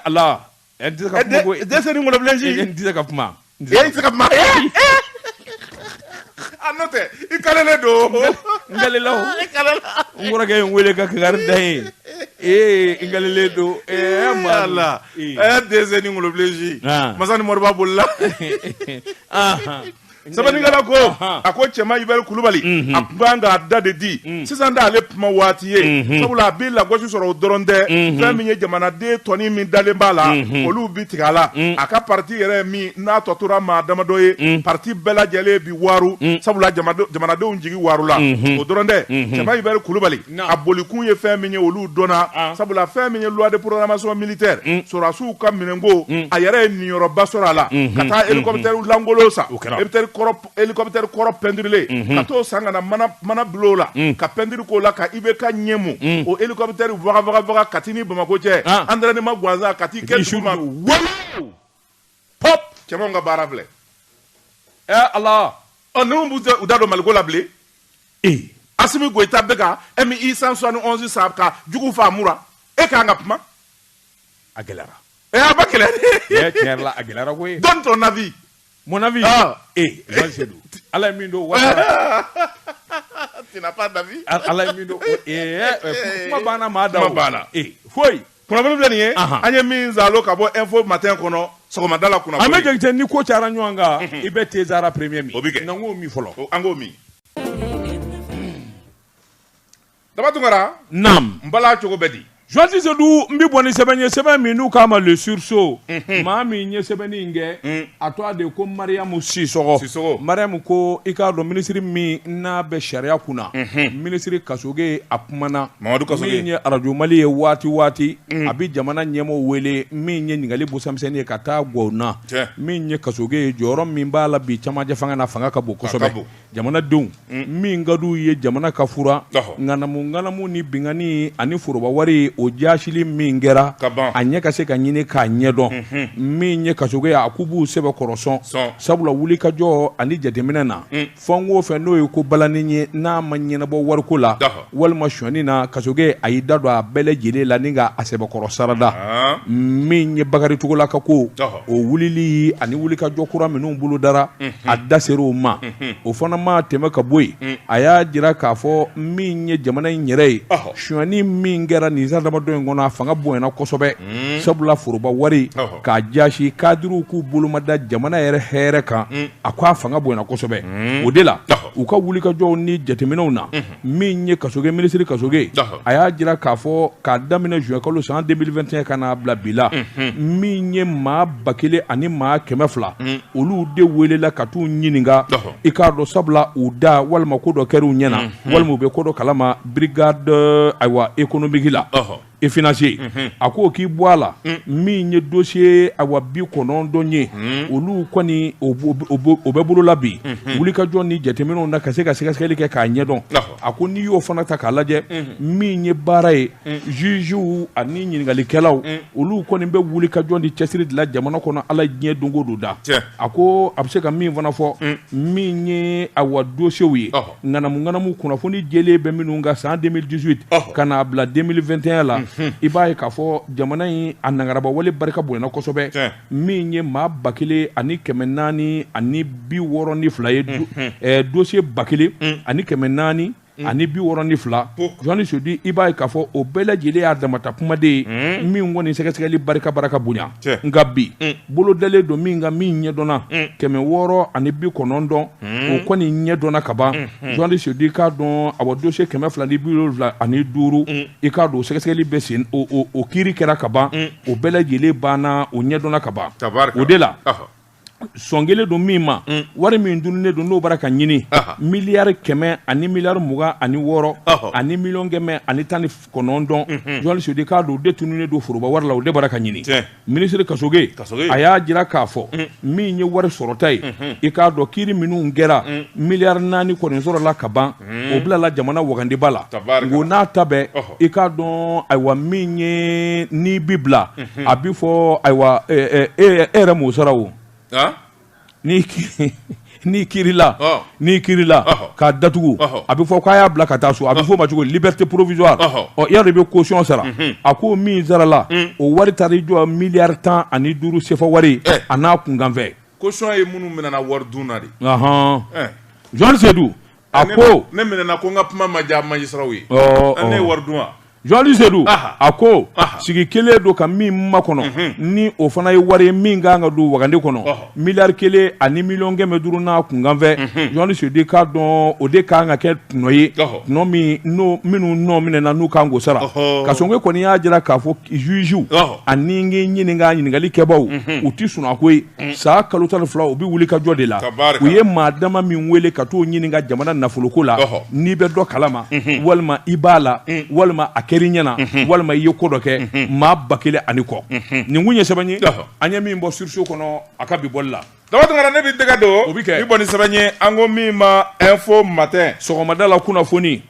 ala dɛsɛ ka kuma koyi dɛsɛ ni ŋɔlɔbilensi n tɛ se ka kuma n tɛ se ka kuma a n'o tɛ i kalelen don n kalela o n kɔrɔkɛ ye n wele ka kangari da ye ee n kalelen don ee ala ɛ dɛsɛ ni ŋɔlɔbilensi masa ni moriba bolila sɛbɛnnikɛla ko a ko cɛman ubɛri kulubali a tun kan k'a da de di sisan tɛ ale kuma waati ye sabula a bɛ lagosi sɔrɔ o dɔrɔn tɛ fɛn min ye jamanaden tɔnin min dalen b'a la olu bɛ tigɛ a la a ka pati yɛrɛ min n'a tɔ tora maa damadɔ ye pati bɛɛ lajɛlen bi waaro sabula jamanadenw jigi waarola o dɔrɔn tɛ cɛman ubɛri kulubali a bolikun ye fɛn min ye olu dɔnna sabula fɛn min ye loi de programmation militaire sɔrɔdasiw ka minɛnko a yɛrɛ ye niyɔrɔba sɔrɔ a la ka taa hélicoptère lankolon san hélicoptère kɔrɔ pentirilen ka t'o san ka na mana bulon o la ka peinture k'o la ka IBK ɲɛ mu o hélicoptère wagawagawaga Kati ni Bamako cɛ entraînement gansan ka t'i kɛ duguma pɔp cɛman ka baara filɛ ɛ eh, ala ɔ ninnu b'u da don maliko la bilen ee asimi goyita bɛ ka MI cent soixante onze san ka jugu fa mura e k'an ka kuma a gɛlɛyara ɛ eh, a b'a gɛlɛya dɛ tiɲɛ yɛrɛ la a gɛlɛyara koyi donne ton avis mon avis ah. ee eh, jɔn seydou ala ye min dɔn wasa tu n'as pas d'avis ala ye min dɔn ee kuma banna maa da o kuma banna ee foyi Kunnafoni filɛ nin ye, anhan, an ye min zalo ka bɔ info matin kɔnɔ sɔgɔmada la kunnafoni, Ahmed Jakite ni ko cayara ɲɔgɔn kan, unhun, i bɛ te zara premier min, o bɛ kɛ, na an k'o min fɔlɔ, an k'o min, Daba Tunkara, naamu, n bala cogo bɛ di? Joasi Seydou n bɛ bɔ ni sɛbɛn ye, sɛbɛn min n'u k'a ma le sursaut, unhun, maa min ye sɛbɛnni in kɛ, un. a tɔgɔ de ko mariyamu sisɔgɔ sisɔgɔ mariyamu ko i k'a dɔn minisiri min n'a bɛ sariya kunna minisiri kasoge a kumana mamadu kasoge min ye arajo mali ye waati waati mm. a bɛ jamana ɲɛmɔgɔ wele min ye ɲininkali busamisɛnnin ye ka taa gɔw na min ye kasoge ye jɔyɔrɔ min b'a la bi camancɛ fanga na fanga ka bon kosɛbɛ jamanadenw min ka d'u ye jamana ka furan ŋanamuŋanamu ni binkanni ani foroba wari o jaasili min kɛra a ɲɛ ka se ka ɲini k'a ɲɛdɔn min ye kasoge a k'u b'u sɛbɛkɔrɔ sɔn sabula wulikajɔ ani jateminɛ na fɛn o fɛn n'o ye ko balannen ye n'a ma ɲɛnabɔ wariko la Walima sɔni na kasoge a y'i da don a bɛɛ lajɛlen la ni ka a sɛbɛkɔrɔ sarada min ye Bakari Togola ka ko o wulili ani wuli ka jɔ kura minnu bolo dara a da ser' o ma o fana ma tɛmɛ ka bɔ yen a y'a jira k'a fɔ min ye jamana in yɛrɛ ye sɔni min kɛra nin san damadɔ in kɔnɔ a fanga bonyana kosɛbɛ sabula foroba wari k'a jasi kadiriw k'u bolomada jamana yɛrɛ hɛrɛ kan a ko a fanga bonyana kosɛbɛ o de la u ka wuli kajɔ ni jateminɛw na min ye kasoge minisiri kasoge a y'a jira k'a fɔ k'a daminɛ juin kalo san 2021 ka n'a bila bi la min ye maa ba kelen ani maa kɛmɛ fila olu de welela ka t'u ɲininka i k'a dɔn sabula u da walima ko dɔ kɛr'u ɲɛna walima u bɛ ko dɔ kalama brigade ayiwa économique la et financier a ko k'i bɔ a la min ye dosiye a wa bi kɔnɔntɔn ye olu kɔni o bɛ bolo la bi wulikajɔ ni jateminɛw na ka se ka sɛgɛsɛgɛli kɛ k'a ɲɛdɔn a ko n'i y'o fana ta k'a lajɛ min ye baara ye zuzuw ani ɲininkalikɛlaw olu kɔni bɛ wulikajɔ ni cɛsiri de la jamana kɔnɔ ala diɲɛ don o don da a ko a bɛ se ka min fana fɔ min ye a wa dosiyew ye ŋanamu ŋanamu kunnafoni jɛlen bɛ minnu kan san 2018 ka n'a bila 2021 la mhm. i b'a ye k'a fɔ jamana in a nangarabawale barika bonyana kosɛbɛ min ye maa ba kelen ani kɛmɛ naani ani bi wɔɔrɔ ni fila ye mhm. dosiye ba kelen mm. ani kɛmɛ naani Mm. ani bi wɔɔrɔ ni fila jɔni sedu i b'a ye k'a fɔ o bɛɛ lajɛlen y'a damata kuma de ye mm. min kɔni sɛgɛsɛgɛli barika baraka bonya nka bi mm. bolodalen don min ka min ɲɛdɔnna kɛmɛ wɔɔrɔ ani bi kɔnɔntɔn o kɔni ɲɛ dɔnna ka ban jɔni sedu i k'a dɔn a wa dosiye kɛmɛ fila ni bi wolonwula ani duuru i k'a dɔn sɛgɛsɛgɛli bɛ sen o kiri kɛra ka ban o bɛɛ lajɛlen banna o ɲɛ dɔnna ka ban o de la sɔn kɛlen don min ma wari min dunnen don n'o bara ka ɲini miliyari kɛmɛ ani miliyari mugan ani wɔɔrɔ ani miliyɔn kɛmɛ ani tan ni kɔnɔntɔn jɔni sedu i k'a dɔn o de tununnen don foroba wari la o de bara ka ɲini minisiri kasoge a y'a jira k'a fɔ min ye wari sɔrɔta ye i k'a dɔn kiri minnu kɛra miliyari naani kɔni sɔrɔla ka ban o bilala jamana wagandiba la ko n'a ta bɛn i k'a dɔn ayiwa min ye n'i bi bila a bɛ fɔ ayiwa e yɛrɛ m'o sara o Ni n'i kila n'i kirila ka datugu a bɛ fɔ k'a y'a bila ka taa so a bɛ fɔ ma cogo liberté provisoire yɛrɛ i bɛ caution sara a ko min sarala o wari taara i jɔ miliyari tan ani duuru sefa wari a n'a kunkanfɛ caution ye minnu minɛna wari dun na de jɔni sedu A ko ne minɛna ko n ka kuma ma diya magistratw ye ne ye wari dun wa jɔnli sedu a ko sigi kelen don ka min makɔnɔ ni o fana ye wari ye min ka kan ka don wagande kɔnɔ miliyari kelen ani miliyɔn kɛmɛ duuru n'a kunkanfɛn jɔnli sudi k'a dɔn o de kan ka kɛ tɔnɔ ye tɔnɔ minnu nɔ minɛna n'u kan k'o sara Kassogué kɔni y'a jira k'a fɔ jugew ani ɲini ɲininka ɲininkali kɛbaw u tɛ sunaa koyi Mm. san kalo tan ni fila u bɛ wulikajɔ de la u ye maa dama min wele ka t'u ɲininka jamana nafoloko la n'i bɛ dɔ kalama mhm. walima i b'a la mm. walima a kɛr'i ɲɛna mhm. walima i ye ko dɔ kɛ mhm. maa ba kelen ani kɔ nin kun ye sɛbɛn ye an ye min bɔ Sursaut kɔnɔ a ka bi bɔli la Daba Tungara ne bɛ dɛgɛ don o bɛ kɛ i bɔ ni sɛbɛn ye an ko min ma Info Matin sɔgɔmada la kunnafoni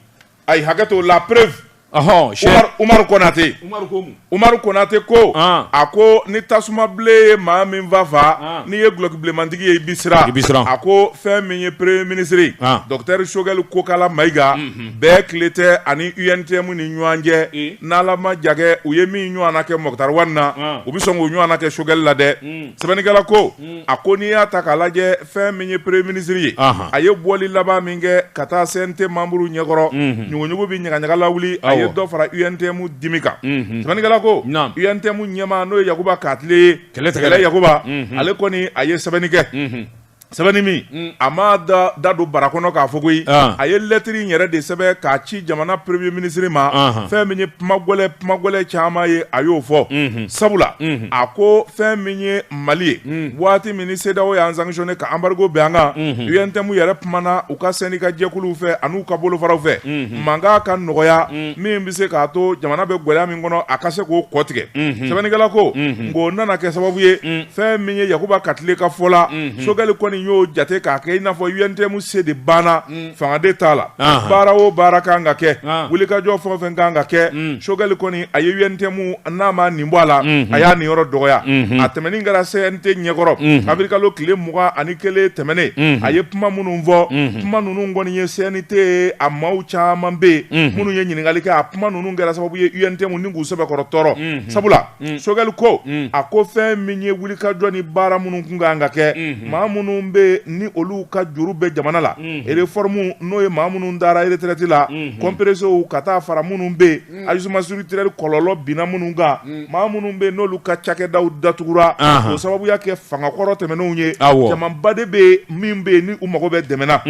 ayi hakɛto la preuve ɔhɔn Umar Umar Konate Umar ko mun Umar Konate ko ah. a ko ni tasuma bilen ye maa min fa faa ah. n'i ye gulɔki bilenmantigi ye i bi siran i bi siran a ko fɛn min ye premier ministre ah. docteur Choguel Kokala Mayiga mm -hmm. bɛn tile tɛ a ni UNTM ni ɲɔgɔn cɛ e? n'Ala ma jagɛ u ye min ɲɔgɔnna kɛ Moctar Ouane na ah. u bi sɔn k'o ɲɔgɔnna kɛ Choguel la dɛ mm. sɛbɛnnikɛla ko Mm. a ko n'i y'a ta k'a lajɛ fɛn min ye premier ministre ye a ye bɔli laban min kɛ ka taa CNT membre ɲɛkɔrɔ mhm. ɲuguɲugu bɛ ɲagaɲaga lawuli a ye dɔ fara UNTM dimi kan mhm. sɛbɛnnikɛla ko UNTM ɲɛmaa n'o ye Yakuba Katile ye kɛlɛ Yakuba mhm. ale kɔni a ye sɛbɛnni kɛ sɛbɛnni min mm. a m'a da don bara kɔnɔ k'a fɔ koyi ah. a ye lɛtiri in yɛrɛ de sɛbɛn k'a ci jamana premier ministre ma ah. fɛn min ye kuma gɛlɛn kuma gɛlɛn caman ye a y'o fɔ mhm. sabula mhm. a ko fɛn min ye Mali ye waati min ni CEDEAO y'an sanctionner ka embargo bɛn an kan UNTM yɛrɛ kumana u ka syndicat jɛkuluw fɛ an'u ka bolofaraw fɛ mankan ka nɔgɔya min bɛ se k'a to jamana bɛ gɛlɛya min kɔnɔ a ka se k'o kɔ tigɛ sɛbɛnnikɛla ko nka o nana kɛ sababu ye fɛn min ye Yakuba Katile ka fɔ la Choguel kɔni y'o jate k'a kɛ i n'a fɔ UNTM se de banna fanga de t'a la baara o baara kan ka kɛ wulikajɔ fɛn o fɛn kan ka kɛ mm. Choguel kɔni a ye UNTM n'a ma nin bɔ a la mm-hmm. a y'a niyɔrɔ dɔgɔya mm-hmm. a tɛmɛnen kɛra CNT ɲɛkɔrɔ mm-hmm. awirilikalo tile mugan ani kelen tɛmɛnen a ye kuma minnu fɔ kuma ninnu kɔni ye CNT a maaw caman bɛ yen minnu ye ɲininkali kɛ a kuma ninnu kɛra sababu ye UNTM ni k'u sɛbɛkɔrɔ tɔɔrɔ sabula Mm. Choguel ko mm. a ko fɛn min ye wulikajɔ ni baara minnu kun kan ka kɛ mm-hmm. maa minnu bɛ ni olu ka juru bɛ jamana la mm-hmm. réforme n'o ye maa minnu dara retraite la mm-hmm. compresséw ka taa fara minnu bɛ yen mm. ajustement structurel kɔlɔlɔ binna minnu kan maa minnu bɛ yen n'olu ka cakɛdaw datugura o sababu y'a kɛ fanga kɔrɔ tɛmɛnenw ye jamanba de bɛ yen min bɛ yen ni u mago bɛ dɛmɛ na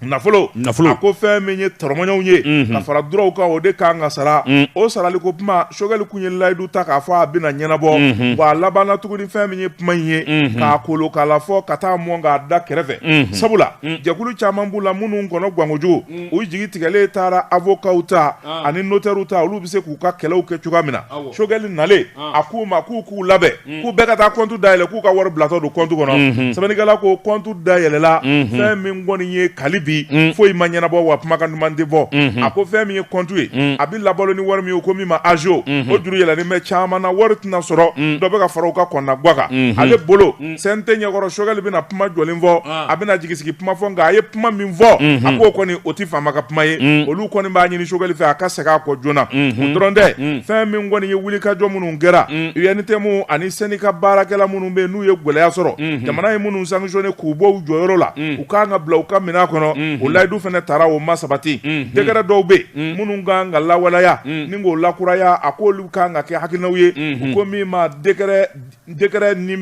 nafolo a ko fɛn min ye tɔrɔmɔɲɔgɔnw ye mhm. ka fara duraw kan o de kan ka sara mm. o sarali ko kuma Choguel kun ye layidu ta k'a fɔ a bɛna ɲɛnabɔ mhm. wa a labanna tuguni fɛn min ye kuma in ye mhm. k'a kolo k'a la fɔ ka taa mɔn k'a da kɛrɛfɛ sabula mm. jɛkulu caman b'u la minnu kɔnɔ gwan kojugu mm. u jigi tigɛlen taara avokaw ta ah. ani notɛriw ta olu bɛ se k'u ka kɛlɛw kɛ cogoya min na Choguel nalen ah. a k'u ma k'u k'u labɛn k'u bɛɛ ka taa compte da yɛlɛ k'u ka wari bilatɔ don compte kɔnɔ unhun sɛbɛnnikɛla ko compte da yɛlɛla unhun fɛn min kɔni ye hali bi un foyi ma ɲɛnabɔ wa kumakan duman tɛ fɔ unhun a ko fɛn min ye compte ye un a bɛ labalo ni wari min ye ko min ma agio unhun o juru yɛlɛlen bɛ caman na wari tɛna sɔrɔ un dɔ bɛ ka fara u ka kɔnɔnagwan kan unhun ale bolo un CNT ɲɛkɔrɔ Choguel bɛna kuma jɔlen fɔ an a bɛna jigisigi kuma fɔ nka a ye kuma min fɔ unhun a k'o kɔni o tɛ faama ka kuma ye un olu kɔni b'a ɲini Choguel fɛ a ka segin a kɔ joona o unhun dɔrɔn tɛ un fɛn min kɔni ye wulikajɔ minnu kɛra UNTM ani syndicat baarakɛla minnu bɛ n'u ye gɛlɛya sɔrɔ jamana ye minnu sanctionné k'u bɔ u jɔyɔrɔ la u kan ka bila u ka minɛn kɔnɔ o layidu fana taara o ma sabati décret dɔw bɛ yen minnu kan ka lawaleya ni k'o lakuraya a k'olu kan ka kɛ hakilinaw ye u ko min ma décret ni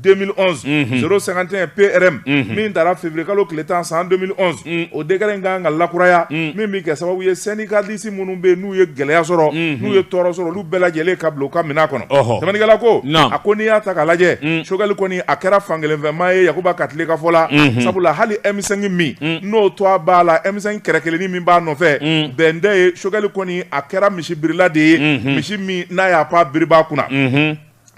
2011 051 PRM min taara février kalo tile tan san 2011 o décret in kan ka lakuraya min bɛ kɛ sababu ye syndicaliste minnu bɛ n'u ye gɛlɛya sɔrɔ n'u ye tɔɔrɔ sɔrɔ olu bɛɛ lajɛlen ka bila u ka minɛn kɔnɔ sɛbɛnnikɛla ko a ko n'i y'a ta k'a lajɛ Choguel kɔni a kɛra fankelenfɛmaa ye Yakuba Katile ka fɔ la sabula hali M5 min n'o to a b'a la M5 kɛrɛ kelennin min b'a nɔfɛ bɛn tɛ ye Choguel kɔni a kɛra misibirila de ye misi min n'a y'a pan biribaa kunna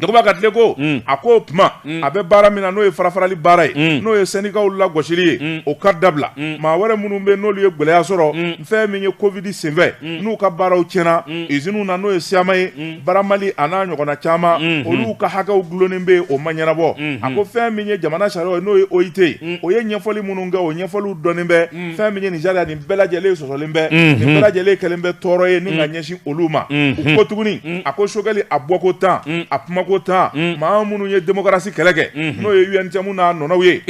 Yakuba Katile ko a ko o tuma a bɛ baara min na n'o ye farafarali baara ye n'o ye syndicaw lagosili ye o ka dabila maa wɛrɛ minnu bɛ n'olu ye gɛlɛya sɔrɔ fɛn min ye Covid senfɛ n'u ka baaraw tiɲɛna usine na n'o ye Syama ye Bramali a n'a ɲɔgɔnna caman olu ka hakɛw dulonnen bɛ o ma ɲɛnabɔ a ko fɛn min ye jamana sariyaw ye n'o ye OIT ye o ye ɲɛfɔli minnu kɛ o ɲɛfɔliw dɔnnen bɛ fɛn min ye nin sariya nin bɛɛ lajɛlen sɔsɔlen bɛ nin bɛɛ lajɛlen kɛlen bɛ tɔɔrɔ ye ni ka ɲɛsin olu ma u ko tuguni a ko Choguel a bɔko tan a kumako tan maa minnu ye démocratie kɛlɛ kɛ n'o ye UNTM n'a ɲɔgɔnnaw ye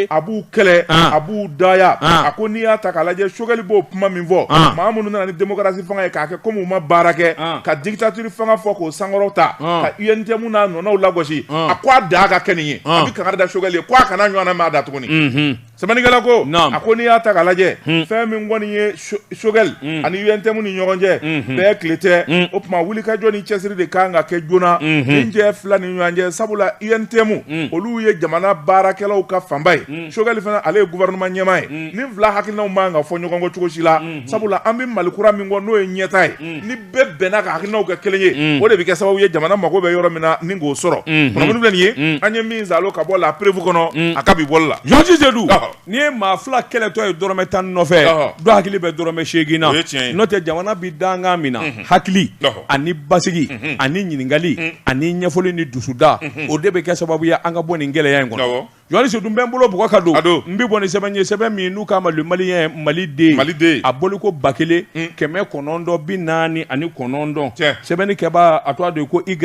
a b'u kɛlɛ a b'u dɔgɔya a ko n'i y'a ta k'a lajɛ Choguel b'o kuma min fɔ maa minnu nana ni démocratie fanga ye k'a kɛ komi u ma baara kɛ ka dictature fanga fɔ k'o sankɔrɔta ka UNTM n'a ɲɔgɔnnaw lagosi a ko a dan ka kɛ nin ye a bɛ kangari da Choguel ye ko a kana ɲɔgɔnna mɛn a da tuguni Sɛbɛnnikɛla ko a ko n'i y'a ta k'a lajɛ hmm. fɛn min kɔni ye Choguel hmm. ani UNTM ni ɲɔgɔn cɛ hmm. bɛɛ tile tɛ o tuma wulikajɔ ni cɛsiri de kan ka kɛ joona nin cɛ fila ni ɲɔgɔn cɛ sabula UNTM olu ye jamana baarakɛlaw ka fanba ye Choguel fana ale ye gouvernement ɲɛmaa ye nin fila hakilinaw man ka fɔ ɲɔgɔn kɔ cogo si la sabula an bɛ Mali kura min kɔ n'o ye ɲɛta ye bɛɛ bɛnna ka hakilinaw kɛ kelen ye mm. o de bɛ kɛ sababu ye jamana mago bɛ yɔrɔ min na ni k'o sɔrɔ mm-hmm. kunnafoni filɛ nin ye mm. an ye min zalo ka bɔ La Preuve kɔnɔ mm. a ka bi bɔli la journaliste Seydou n'i ye maa fila kɛlɛtɔ ye dɔrɔmɛ tan nɔfɛ dɔ hakili bɛ dɔrɔmɛ seegin na n'o tɛ jamana bɛ dankan min na mm-hmm. hakili ani basigi mm-hmm. ani ɲininkali ani ɲɛfɔli ni dusuda o de bɛ kɛ sababu ye an ka bɔ nin gɛlɛya in kɔnɔ Journaliste Seydou n bɛ n bolo bugu ka don n bɛ bɔ ni sɛbɛn ye sɛbɛn min n'u k'a ma Le Malien Maliden a bɔliko ba kelen kɛmɛ kɔnɔntɔn bi naani ani kɔnɔntɔn sɛbɛnnikɛba a tɔgɔ de ko Y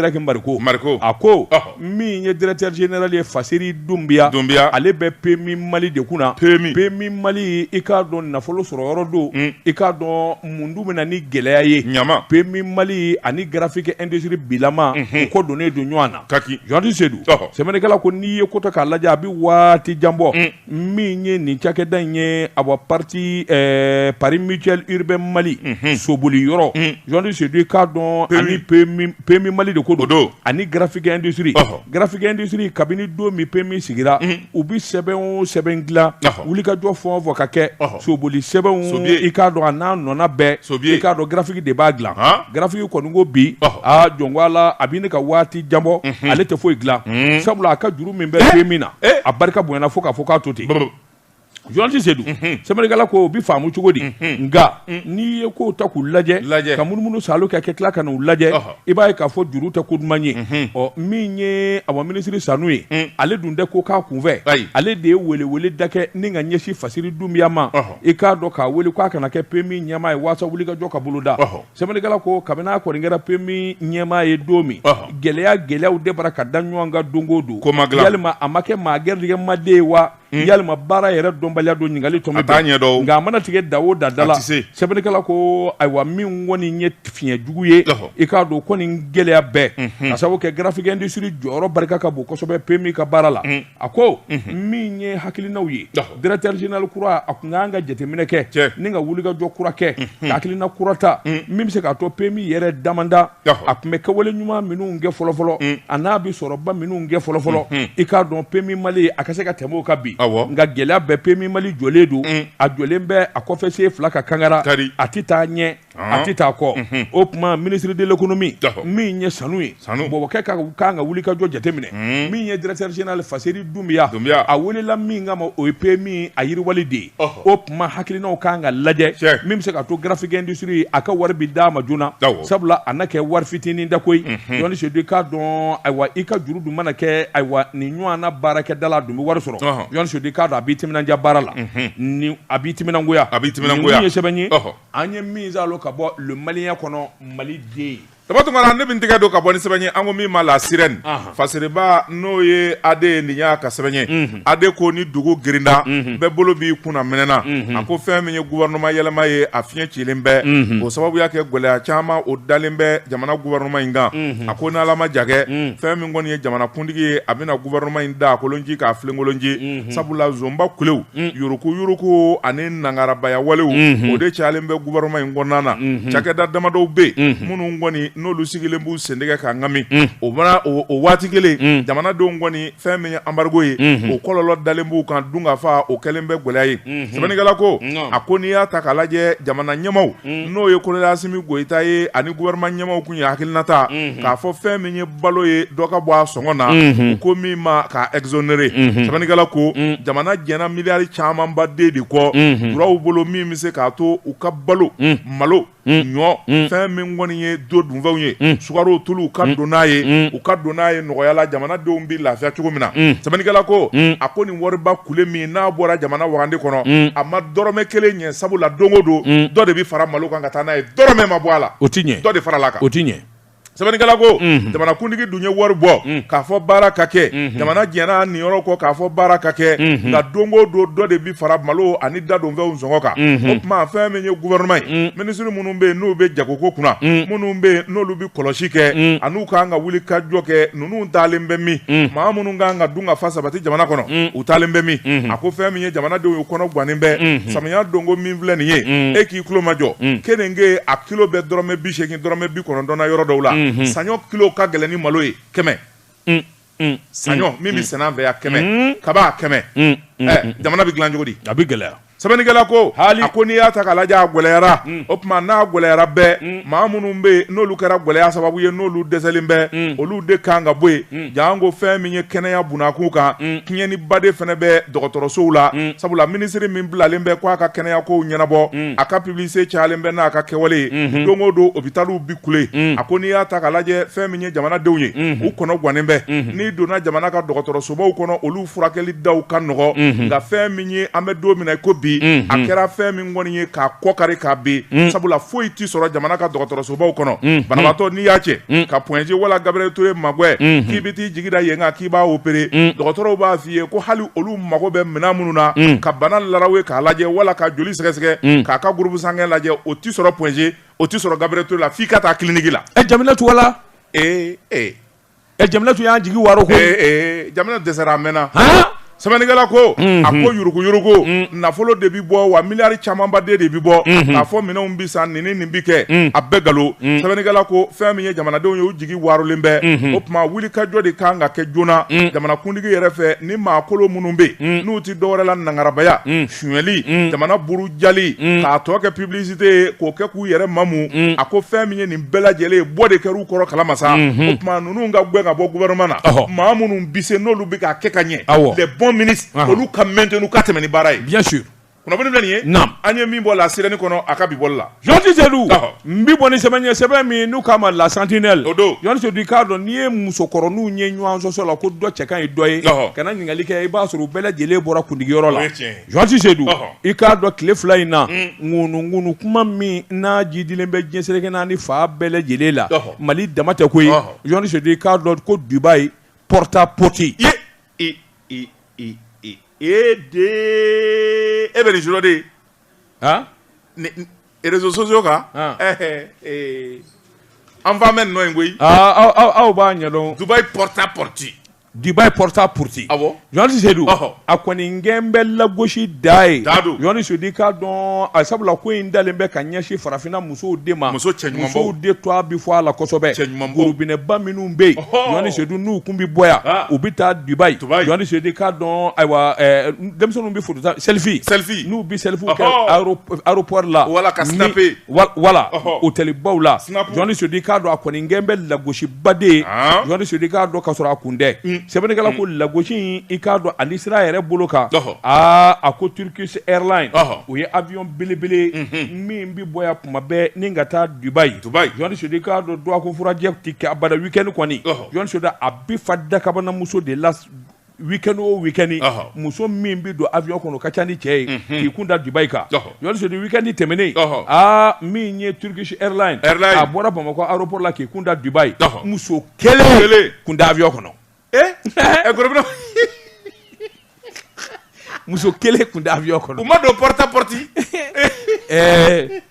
Mariko a ko min ye directeur général ye faseri dunbiya dunbiya ale bɛ PMI Mali de kunna PMI PMI Mali i k'a dɔn nafolo sɔrɔ yɔrɔ don i k'a dɔn mun dun bɛ na ni gɛlɛya ye ɲama PMI Mali ani graphique industrie bilama o ko donnen don ɲɔgɔn na Ka ki journaliste Seydou sɛbɛnnikɛla ko n'i ye ko ta k'a lajɛ a bɛ waati janbɔ min ye nin cakɛda in ye awa pati Pari Mutuel Urbain Mali soboli yɔrɔ journaliste Seydou i k'a dɔn ani PMI Mali de ko don ani graphique industrie graphique industrie kabini don min PMI sigira u bɛ sɛbɛn o sɛbɛn dilan wulikajɔ fɛn o fɛn ka kɛ soboli sɛbɛnw i k'a dɔn a n'a nɔna bɛɛ i k'a dɔn graphique de b'a dilan graphique kɔni ko bi a jɔn ko Ala a bɛ ne ka waati janbɔ ale tɛ foyi dilan sabula a ka juru min bɛ PMI na a barika bonyana fo k'a fɔ k'a to ten Journaliste Seydou sɛbɛnnikɛla ko o bɛ faamu cogo di nka n'i ye ko ta k'u lajɛ ka munumunu sa ka kɛ tila ka n'u lajɛ i b'a ye k'a fɔ juru tɛ ko duman ye ɔ min ye awa minisiri Sanu ye ale dun tɛ ko k'a kunfɛ ale de ye welewele da kɛ ni ka ɲɛsin faseri dunbiya ma i k'a dɔn k'a wele k'a ka na kɛ PMI ɲɛmaa ye waasa wulikajɔ ka boloda sɛbɛnnikɛla ko kabini a kɔni kɛra PMI ɲɛmaa ye don min gɛlɛya gɛlɛyaw de bara ka da ɲɔgɔn kan don o don yalima a ma kɛ maa garijɛgɛma de ye wa Hmm. yalima baara yɛrɛ dɔnbaliya don ɲininkali tɔ bɛ taa ɲɛdɔn nka a mana tigɛ da o da da la sɛbɛnnikɛla ko ayiwa min kɔni ye fiɲɛ jugu ye i k'a dɔn ko nin gɛlɛya bɛɛ mhm. ka sababu kɛ graphique industrie jɔyɔrɔ barika ka bon kosɛbɛ PMI ka baara la mhm. a ko mhm. min ye hakilinaw ye directeur général kura a kun ka kan ka jateminɛ kɛ ni ka wulikajɔ kura kɛ ka hakilina kura ta min bɛ se k'a to PMI yɛrɛ damanda a kun bɛ kɛwale ɲuman minnu kɛ fɔlɔfɔlɔ mm. a n'a bɛ sɔrɔba minnu kɛ fɔlɔfɔlɔ mm-hmm. i k'a dɔn PMI Mali a ka se ka tɛmɛ o kan bi nka gɛlɛya bɛɛ PMI Mali jɔlen don mm. a jɔlen bɛ a kɔfɛ sen fila kan kangara a tɛ taa ɲɛ a tɛ taa kɔ mm-hmm. o tuma ministre de l'économie min ye sanu ye bɔbɔkɛ ka kan ka wulikajɔ jateminɛ mm. min ye directeur général faseri dunbiya a welela min kama o ye PMI a yiriwali de ye o tuma hakilinaw ka kan ka lajɛ min bɛ se ka to Graphique Industrie a ka wari bɛ d'a ma joona sabula a na kɛ wari fitinin da koyi John Sedu i k'a dɔn ayiwa i ka juru dun mana kɛ ayiwa nin ɲɔgɔn na baarakɛdala a dun bɛ wari sɔrɔ John Sedu i k'a dɔn a b'i timinandiya baara la ni a b'i timinangoya a b'i timinangoya nin dun ye sɛbɛn ye an ye min salo ka bɔ Le Malien kɔnɔ Mali den Taba tunga la ne bɛ n tɛgɛ don ka bɔ ni sɛbɛn ye an ko min ma La Sirène Fasiriba n'o ye Ade ye nin y'a ka sɛbɛn ye Ade ko ni dugu girinda bɛɛ bolo b'i kunna minɛna a ko fɛn min ye gouvernement yɛlɛma ye a fiɲɛ cilen bɛ o sababu y'a kɛ gɛlɛya caman o dalen bɛ jamana gouvernement in kan a ko n'Ala ma ja kɛ fɛn min kɔni ye jamanakuntigi ye a bɛna gouvernement in da kolonji k'a filenkolonji sabula zonba kulew yuruguyurugu ani nangarabaya walew o de caalen bɛ gouvernement in kɔnɔna na cakɛda damadɔw bɛ yen minnu kɔni n'olu sigilen b'u sen de kɛ k'a ŋami o mana o waati kelen jamanadenw kɔni fɛn min ye embargo ye o kɔlɔlɔ dalen b'u kan dunkafa o kɛlen bɛ gɛlɛya ye sɛbɛnnikɛla ko a ko n'i y'a ta k'a lajɛ jamana ɲɛmaw n'o ye colonel Assimi Goïta ye ani gouvernement ɲɛmaw tun ye hakilina ta k'a fɔ fɛn min ye balo ye dɔ ka bɔ a sɔngɔ na u ko min ma k'a exonérer sɛbɛnnikɛla ko jamana jɛnna miliyari camanba de kɔ julaw bolo min bɛ se k'a to u ka balo malo ɲɔ fɛn min kɔni ye don dunfɛnw ye sukaro tulu ka don n'a ye u ka don n'a ye nɔgɔya la jamanadenw bɛ lafiya cogo min na sɛbɛnnikɛla ko a ko nin wariba kule min n'a bɔra jamana wagande kɔnɔ a ma dɔrɔmɛ kelen ɲɛ sabula don o don dɔ de bɛ fara malo kan ka taa n'a ye dɔrɔmɛ ma bɔ a la o tɛ ɲɛ dɔ de faral'a kan o tɛ ɲɛ sɛbɛnnikɛla ko jamanakuntigi dun ye wari bɔ k'a fɔ baara ka kɛ jamana jɛnna a niyɔrɔ kɔ k'a fɔ baara ka kɛ nka don o don dɔ de bɛ fara malo ani dadonfɛnw sɔngɔ kan o tuma fɛn min ye gouvernement ye minisiri minnu bɛ yen n'u bɛ jagoko kunna mm. minnu bɛ yen n'olu bɛ kɔlɔsi kɛ mm. an'u ka kan ka wulikajɔ kɛ ninnu taalen bɛ min mm. maa minnu ka kan ka dunkafa sabati jamana kɔnɔ u taalen bɛ min mm-hmm. a ko fɛn min ye jamanadenw ye kɔnɔ gannen bɛ mm-hmm. samiya donko min filɛ nin ye e k'i tulomajɔ keninge a kilo bɛ dɔrɔmɛ bi seegin dɔrɔmɛ bi kɔnɔntɔn na yɔrɔ dɔw la mm-hmm. saɲɔ kilo ka gɛlɛn ni malo ye kɛmɛ mm, saɲɔ mm, min bɛ sɛnɛ an fɛ yan kɛmɛ kaba kɛmɛ jamana bɛ dilan cogo di a bɛ gɛlɛya sɛbɛnnikɛla ko a ko n'i y'a ta k'a lajɛ a gɛlɛyara o tuma n'a gɛlɛyara bɛɛ maa minnu bɛ yen n'olu kɛra gɛlɛya sababu ye n'olu dɛsɛlen bɛ olu de kan ka bɔ yen janko fɛn min ye kɛnɛya bunda kunkan tiɲɛniba de fana bɛ dɔgɔtɔrɔsow la sabula minisiri min bilalen bɛ k'a ka kɛnɛya kow ɲɛnabɔ a ka publicité cayalen bɛ n'a ka kɛwale ye don o don hôpitaliw bɛ kule a ko n'i y'a ta k'a lajɛ fɛn min jamanadenw ye u kɔnɔ gannen bɛ n'i donna jamana ka dɔgɔtɔrɔsobaw kɔnɔ olu furakɛli da ka nɔgɔ nka fɛn min ye an bɛ don min na i ko bi a kɛra fɛn min kɔni ye k'a kɔ kari k'a bin sabula foyi tɛ sɔrɔ jamana ka dɔgɔtɔrɔsobaw kɔnɔ banabatɔ n'i y'a cɛ ka Point G wala Gabriel Touré magɛn k'i bɛ t'i jigi da yen kan k'i b'a opéré dɔgɔtɔrɔw b'a f'i ye ko hali olu mago bɛ minɛn minnu na ka bana law ye k'a lajɛ wala ka joli sɛgɛsɛgɛ k'a ka groupe sanguin lajɛ o tɛ sɔrɔ Point G o tɛ sɔrɔ Gabriel Touré la f'i ka taa kiliniki la ɛ Jaminatu wala ee ee ɛ Jaminatu y'an jigi waro ko ee ee jamina dɛsɛra a mɛnna sɛbɛnnikɛla ko mhm. a ko yuruku yuruku mhm. nafolo de bi bɔ wa miliyari camanba de bi bɔ mhm. k'a fɔ minɛnw bi san nin ni nin bi kɛ a bɛɛ galo sɛbɛnnikɛla ko fɛn min ye jamanadenw ye u jigi warolen bɛ o tuma wulikajɔ de ka kan ka kɛ joona jamanakuntigi yɛrɛ fɛ ni maakolo minnu bɛ n'u tɛ dɔwɛrɛ la nangarabaya sonyɛli jamana burujali k'a tɔ kɛ publicité ye k'o kɛ k'u yɛrɛ mamu a ko fɛn min ye nin bɛɛ lajɛlen ye bɔ de kɛr'u kɔrɔ kalama sa o tuma ninnu ka gɛn ka bɔ gouvernement na maa minnu bi se n'olu bɛ k'a kɛ ka ɲɛ les bons ministres olu ka maintenu ka tɛmɛ ni baara ye bien sûr kunnafoni filɛ nin ye an ye min bɔ La Sirène kɔnɔ a ka bi bɔli la Jɔnti sedu n bɛ bɔ ni sɛbɛn ye sɛbɛn min n'u k'a ma La Sentinelle jɔnti sedu i k'a dɔn n'i ye musokɔrɔninw ye ɲɔgɔn sɔsɔ la ko dɔ cɛ ka ɲi dɔ ye kana ɲininkali kɛ i b'a sɔrɔ u bɛɛ lajɛlen bɔra kundigiyɔrɔ la jɔnti sedu i k'a dɔn tile fila in na ŋunuŋunu kuma min n'a jiidilen bɛ diɲɛ seleke naani fan bɛɛ lajɛlen la mali dama tɛ koyi jɔnti sedu i k'a dɔn ko Dubai porta potty e de e bɛ de réseaux sociaux kan an fa bɛ nɔ in koyi aw b'a ɲɛdɔn Dubai porta potty Dubai porta potty jɔnti sedu a kɔni n gɛn bɛ lagosi dan ye jɔnti sedu i k'a dɔn a sabula ko in dalen bɛ ka ɲɛsin farafinna musow de ma muso cɛ ɲumanw de tɔgɔ bɛ fɔ a la kosɛbɛ cɛ ɲuman gorobinɛba minnu bɛ yen jɔnti sedu n'u tun bɛ bɔ yan u bɛ taa Dubai jɔnti sedu i k'a dɔn ayiwa denmisɛnninw bɛ foto ta selfie selfie n'u bɛ selfie kɛ Ɔhɔɔ! aéro- aéroport la Wala ka ni- snapper. wa- wala Ɔhɔɔ! hôtelbaw la Snap. Jɔnti Sedu i k'a dɔn a kɔni n gɛn bɛ lagosiba de ye Haan. Jɔnti Sedu i k'a dɔn k'a sɔrɔ a kun tɛ sɛbɛnnikɛla ko lagosi in i k'a dɔn ani sira yɛrɛ bolo kan Ɔhɔ. aa a ko Turkish Airlines Ɔhɔ. o ye avion belebele ye min bɛ bɔ yan tuma bɛɛ ni ka taa Dubai Dubai. Jɔnti Sedu i k'a dɔn dɔgɔkun furancɛ tɛ kɛ abada weekend kɔni Ɔhɔ. Jɔnti Sedu a bɛ fa dakabana muso de la weekend o weekend Ɔhɔ. muso min bɛ don avion kɔnɔ o ka ca ni cɛ ye Mhm. k'i kun da Dubai kan Ɔhɔ. Jɔnti Sedu weekend tɛmɛnen Ɔhɔ. aa min ye Turkish Airlines Airline. a bɔra Bamakɔ aéroport la k'i kun da Dubai Ɔhɔ. muso Kelen. kelen kun tɛ avion kɔnɔ Eh? Eh, gorobinɛ. muso kelen kun tɛ avion kɔnɔ U ma don porta potty. ɛɛ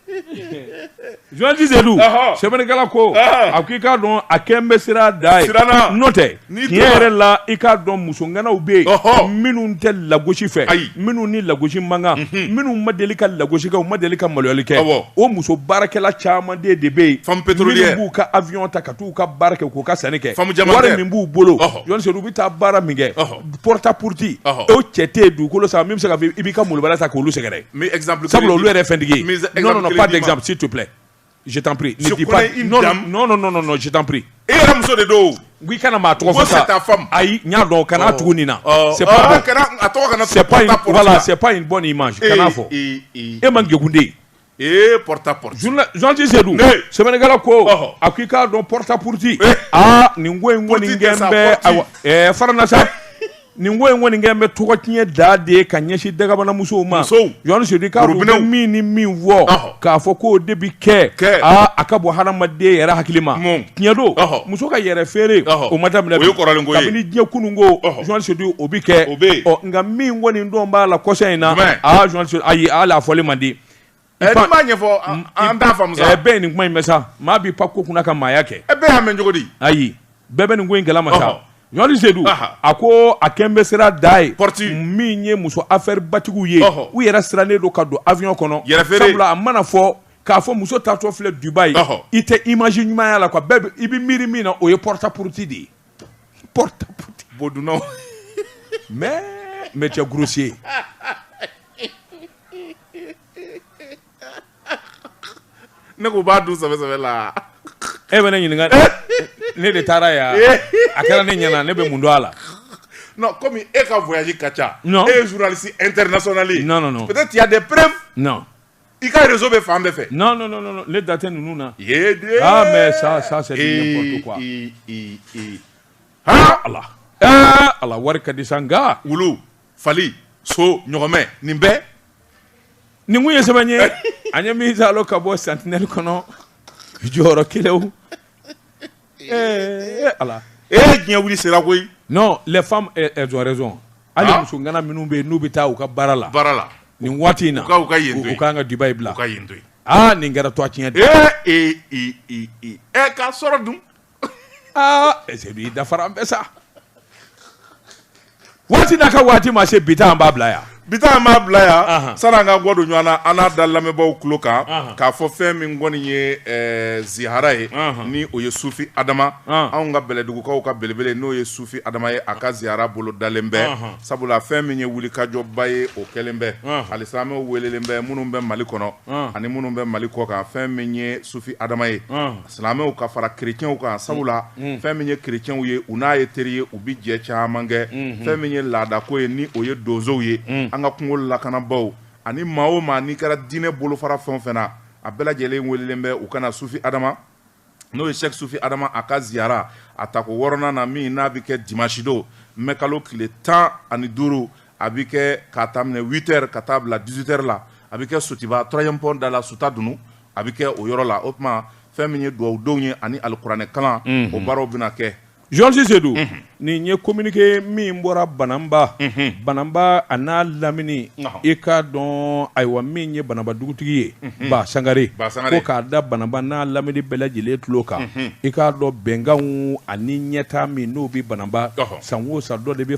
Journaliste Seydou sɛbɛnnikɛla ko a ko i k'a dɔn a kɛlen bɛ siran da ye n'o tɛ tiɲɛ yɛrɛ la i k'a dɔn muso ŋanaw bɛ yen minnu tɛ lagosi fɛ ayi minnu ni lagosi man kan minnu ma deli ka lagosi kɛ u ma deli ka maloyali kɛ o muso baarakɛla caman de bɛ yen minnu b'u ka avion ta ka taa u ka baara kɛ k'u ka sanni kɛ wari min b'u bolo journaliste Seydou u bɛ taa baara min kɛ pta porote o cɛ tɛ yen dugukolo sa min bɛ se ka i b'i ka malobaliya ta k'olu sɛgɛrɛ sabula olu yɛrɛ fɛntigi pzti tu filɛ jitp jitp e yɛrɛ muso de don i kana maa tɔgɔ fɔ ayi n y'a dɔn kana tugu nin na sep in bɔ nin ma kana fɔ e man gkunden Ee porta potty journaliste Seydou sɛbɛnnikɛla ko a ko i k'a dɔn porta potty aa nin ko in kɔni kɛlen bɛ fara an na sa nin ko in kɔni kɛlen bɛ tɔgɔ tiɲɛ da de ye ka ɲɛsin dakabana musow ma journaliste Seydou i k'a dɔn min ni min fɔ k'a fɔ k'o de bɛ kɛ a ka bɔ hadamaden yɛrɛ hakili ma tiɲɛ don Ɔhɔ. muso ka yɛrɛ feere Ɔhɔ. o ma daminɛ O ye kɔrɔlen ko ye. kabini diɲɛ kunun ko Ɔhɔ. journaliste Seydou o bi kɛ O bɛ yen. ɔ nka min kɔni donnen b'a la kɔsa in na Jumɛn? aa journaliste Seydou ayi hali a fɔli man di Ɛ, n'i m'a ɲɛfɔ an- an t'a faamu sa ɛ bɛɛ ye nin kuma in mɛn sa maa b'i pan ko kunna ka maaya kɛ ɛ bɛɛ y'a mɛn cogo di ayi bɛɛ bɛ nin ko in kalama Ɔhɔ. sa journaliste Seydou Aha. a ko a kɛlen bɛ siran da ye Porte. min ye muso affaireba tigiw ye Ɔhɔ. u yɛrɛ sirannen don ka don avion kɔnɔ Yɛrɛ feere. sabula a mana fɔ k'a fɔ muso taatɔ filɛ Dubaï i tɛ image ɲuman y'a la quoi bɛɛ i bɛ miiri min na o ye porta potty de ye porta potty bodunnaw mais mais tu es grossier ne k'u b'a dun sɛbɛ sɛbɛ la e bɛ ne ɲininka ne de taara yan a kɛra ne ɲɛna ne bɛ mun dɔn a la non comme e ka voyage ka ca non e ye journaliste international ye non non non peut-être il y a des preuves non I ka reseau bɛ fan bɛɛ fɛ. Non non non ne da tɛ ninnu na. Yedee! Ah mais ça ça c'est du n'importe quoi. Ee ee ee haa Ala ee Ala wari ka di sa nka. Wulu, fali, so, ɲɔgɔmɛ nin bɛɛ. Nin kun ye sɛbɛn ye an ye min saalo ka bɔ sentinelle kɔnɔ jɔyɔrɔ kelew. Ee ala e ye diɲɛ wuli sera koyi non les femmes elles elles ont raison hali Ah. muso ŋana minnu bɛ yen n'u bɛ taa u ka baara la baara la nin waati in na u ka- u ka yen to yen. u kan ka Dubaï bila u ka yen to yen aa nin kɛra tɔgɔ tiɲɛ de ee ee ee ee ee ɛ k'a sɔrɔ dun aa ɛ Seydou i dafara an bɛɛ sa waati n'a ka waati ma se bi ta an b'a bila yan bi ta an b'a bila yan Ahan. sani an ka kɔ don ɲɔgɔn na an n'a da lamɛnbaaw tulo kan Ahan. k'a fɔ fɛn min kɔni ye eh, ziyara ye Ahan. ni o ye sufi adama Ahan. anw ka bɛlɛdugukaw ka belebele n'o ye sufi adama ye a ka ziyara bolo dalen bɛ Ahan. sabula fɛn min ye wulikajɔba ye o kɛlen bɛ Ahan. alisilamɛw welelen bɛ minnu bɛ mali kɔnɔ Ahan. ani minnu bɛ mali kɔ kan fɛn min ye sufi adama ye Ahan. silamɛw ka fara kerecɛnw kan sabula fɛn min ye kerecɛnw ye u n'a ye teri ye u bɛ jɛ caman kɛ fɛn min ye laadako ye ni o ye donsow ye an ka kungo lakanabaaw ani maa o maa n'i kɛra diinɛ bolofara fɛn o fɛn na a bɛɛ lajɛlen welelen bɛ u ka na sufi adama n'o ye sɛki sufi adama a ka ziyara a tako wɔɔrɔnan na min n'a bɛ kɛ dimansi don mɛ kalo tile tan ani duuru a bɛ kɛ k'a daminɛ witɛri ka taa bila dizutɛri la a bɛ kɛ sotuba tɔrɔziyɛmu pɔn da la sutadunun a bɛ kɛ o yɔrɔ la o tuma fɛn min ye dugawudonw ye ani alikuranɛ kalan o baaraw bɛna kɛ jɔsi sedu nin ye kominike min bɔra bananba bananba a n'a lamini i k'a dɔn ayiwa min ye bananba dugutigi ye ba sangare ko k'a da bananba n'a lamini bɛɛ lajɛlen tulo kan i k'a dɔn bɛnkanw ani ɲɛtaa min n'o bɛ bananba san o san dɔ de bɛ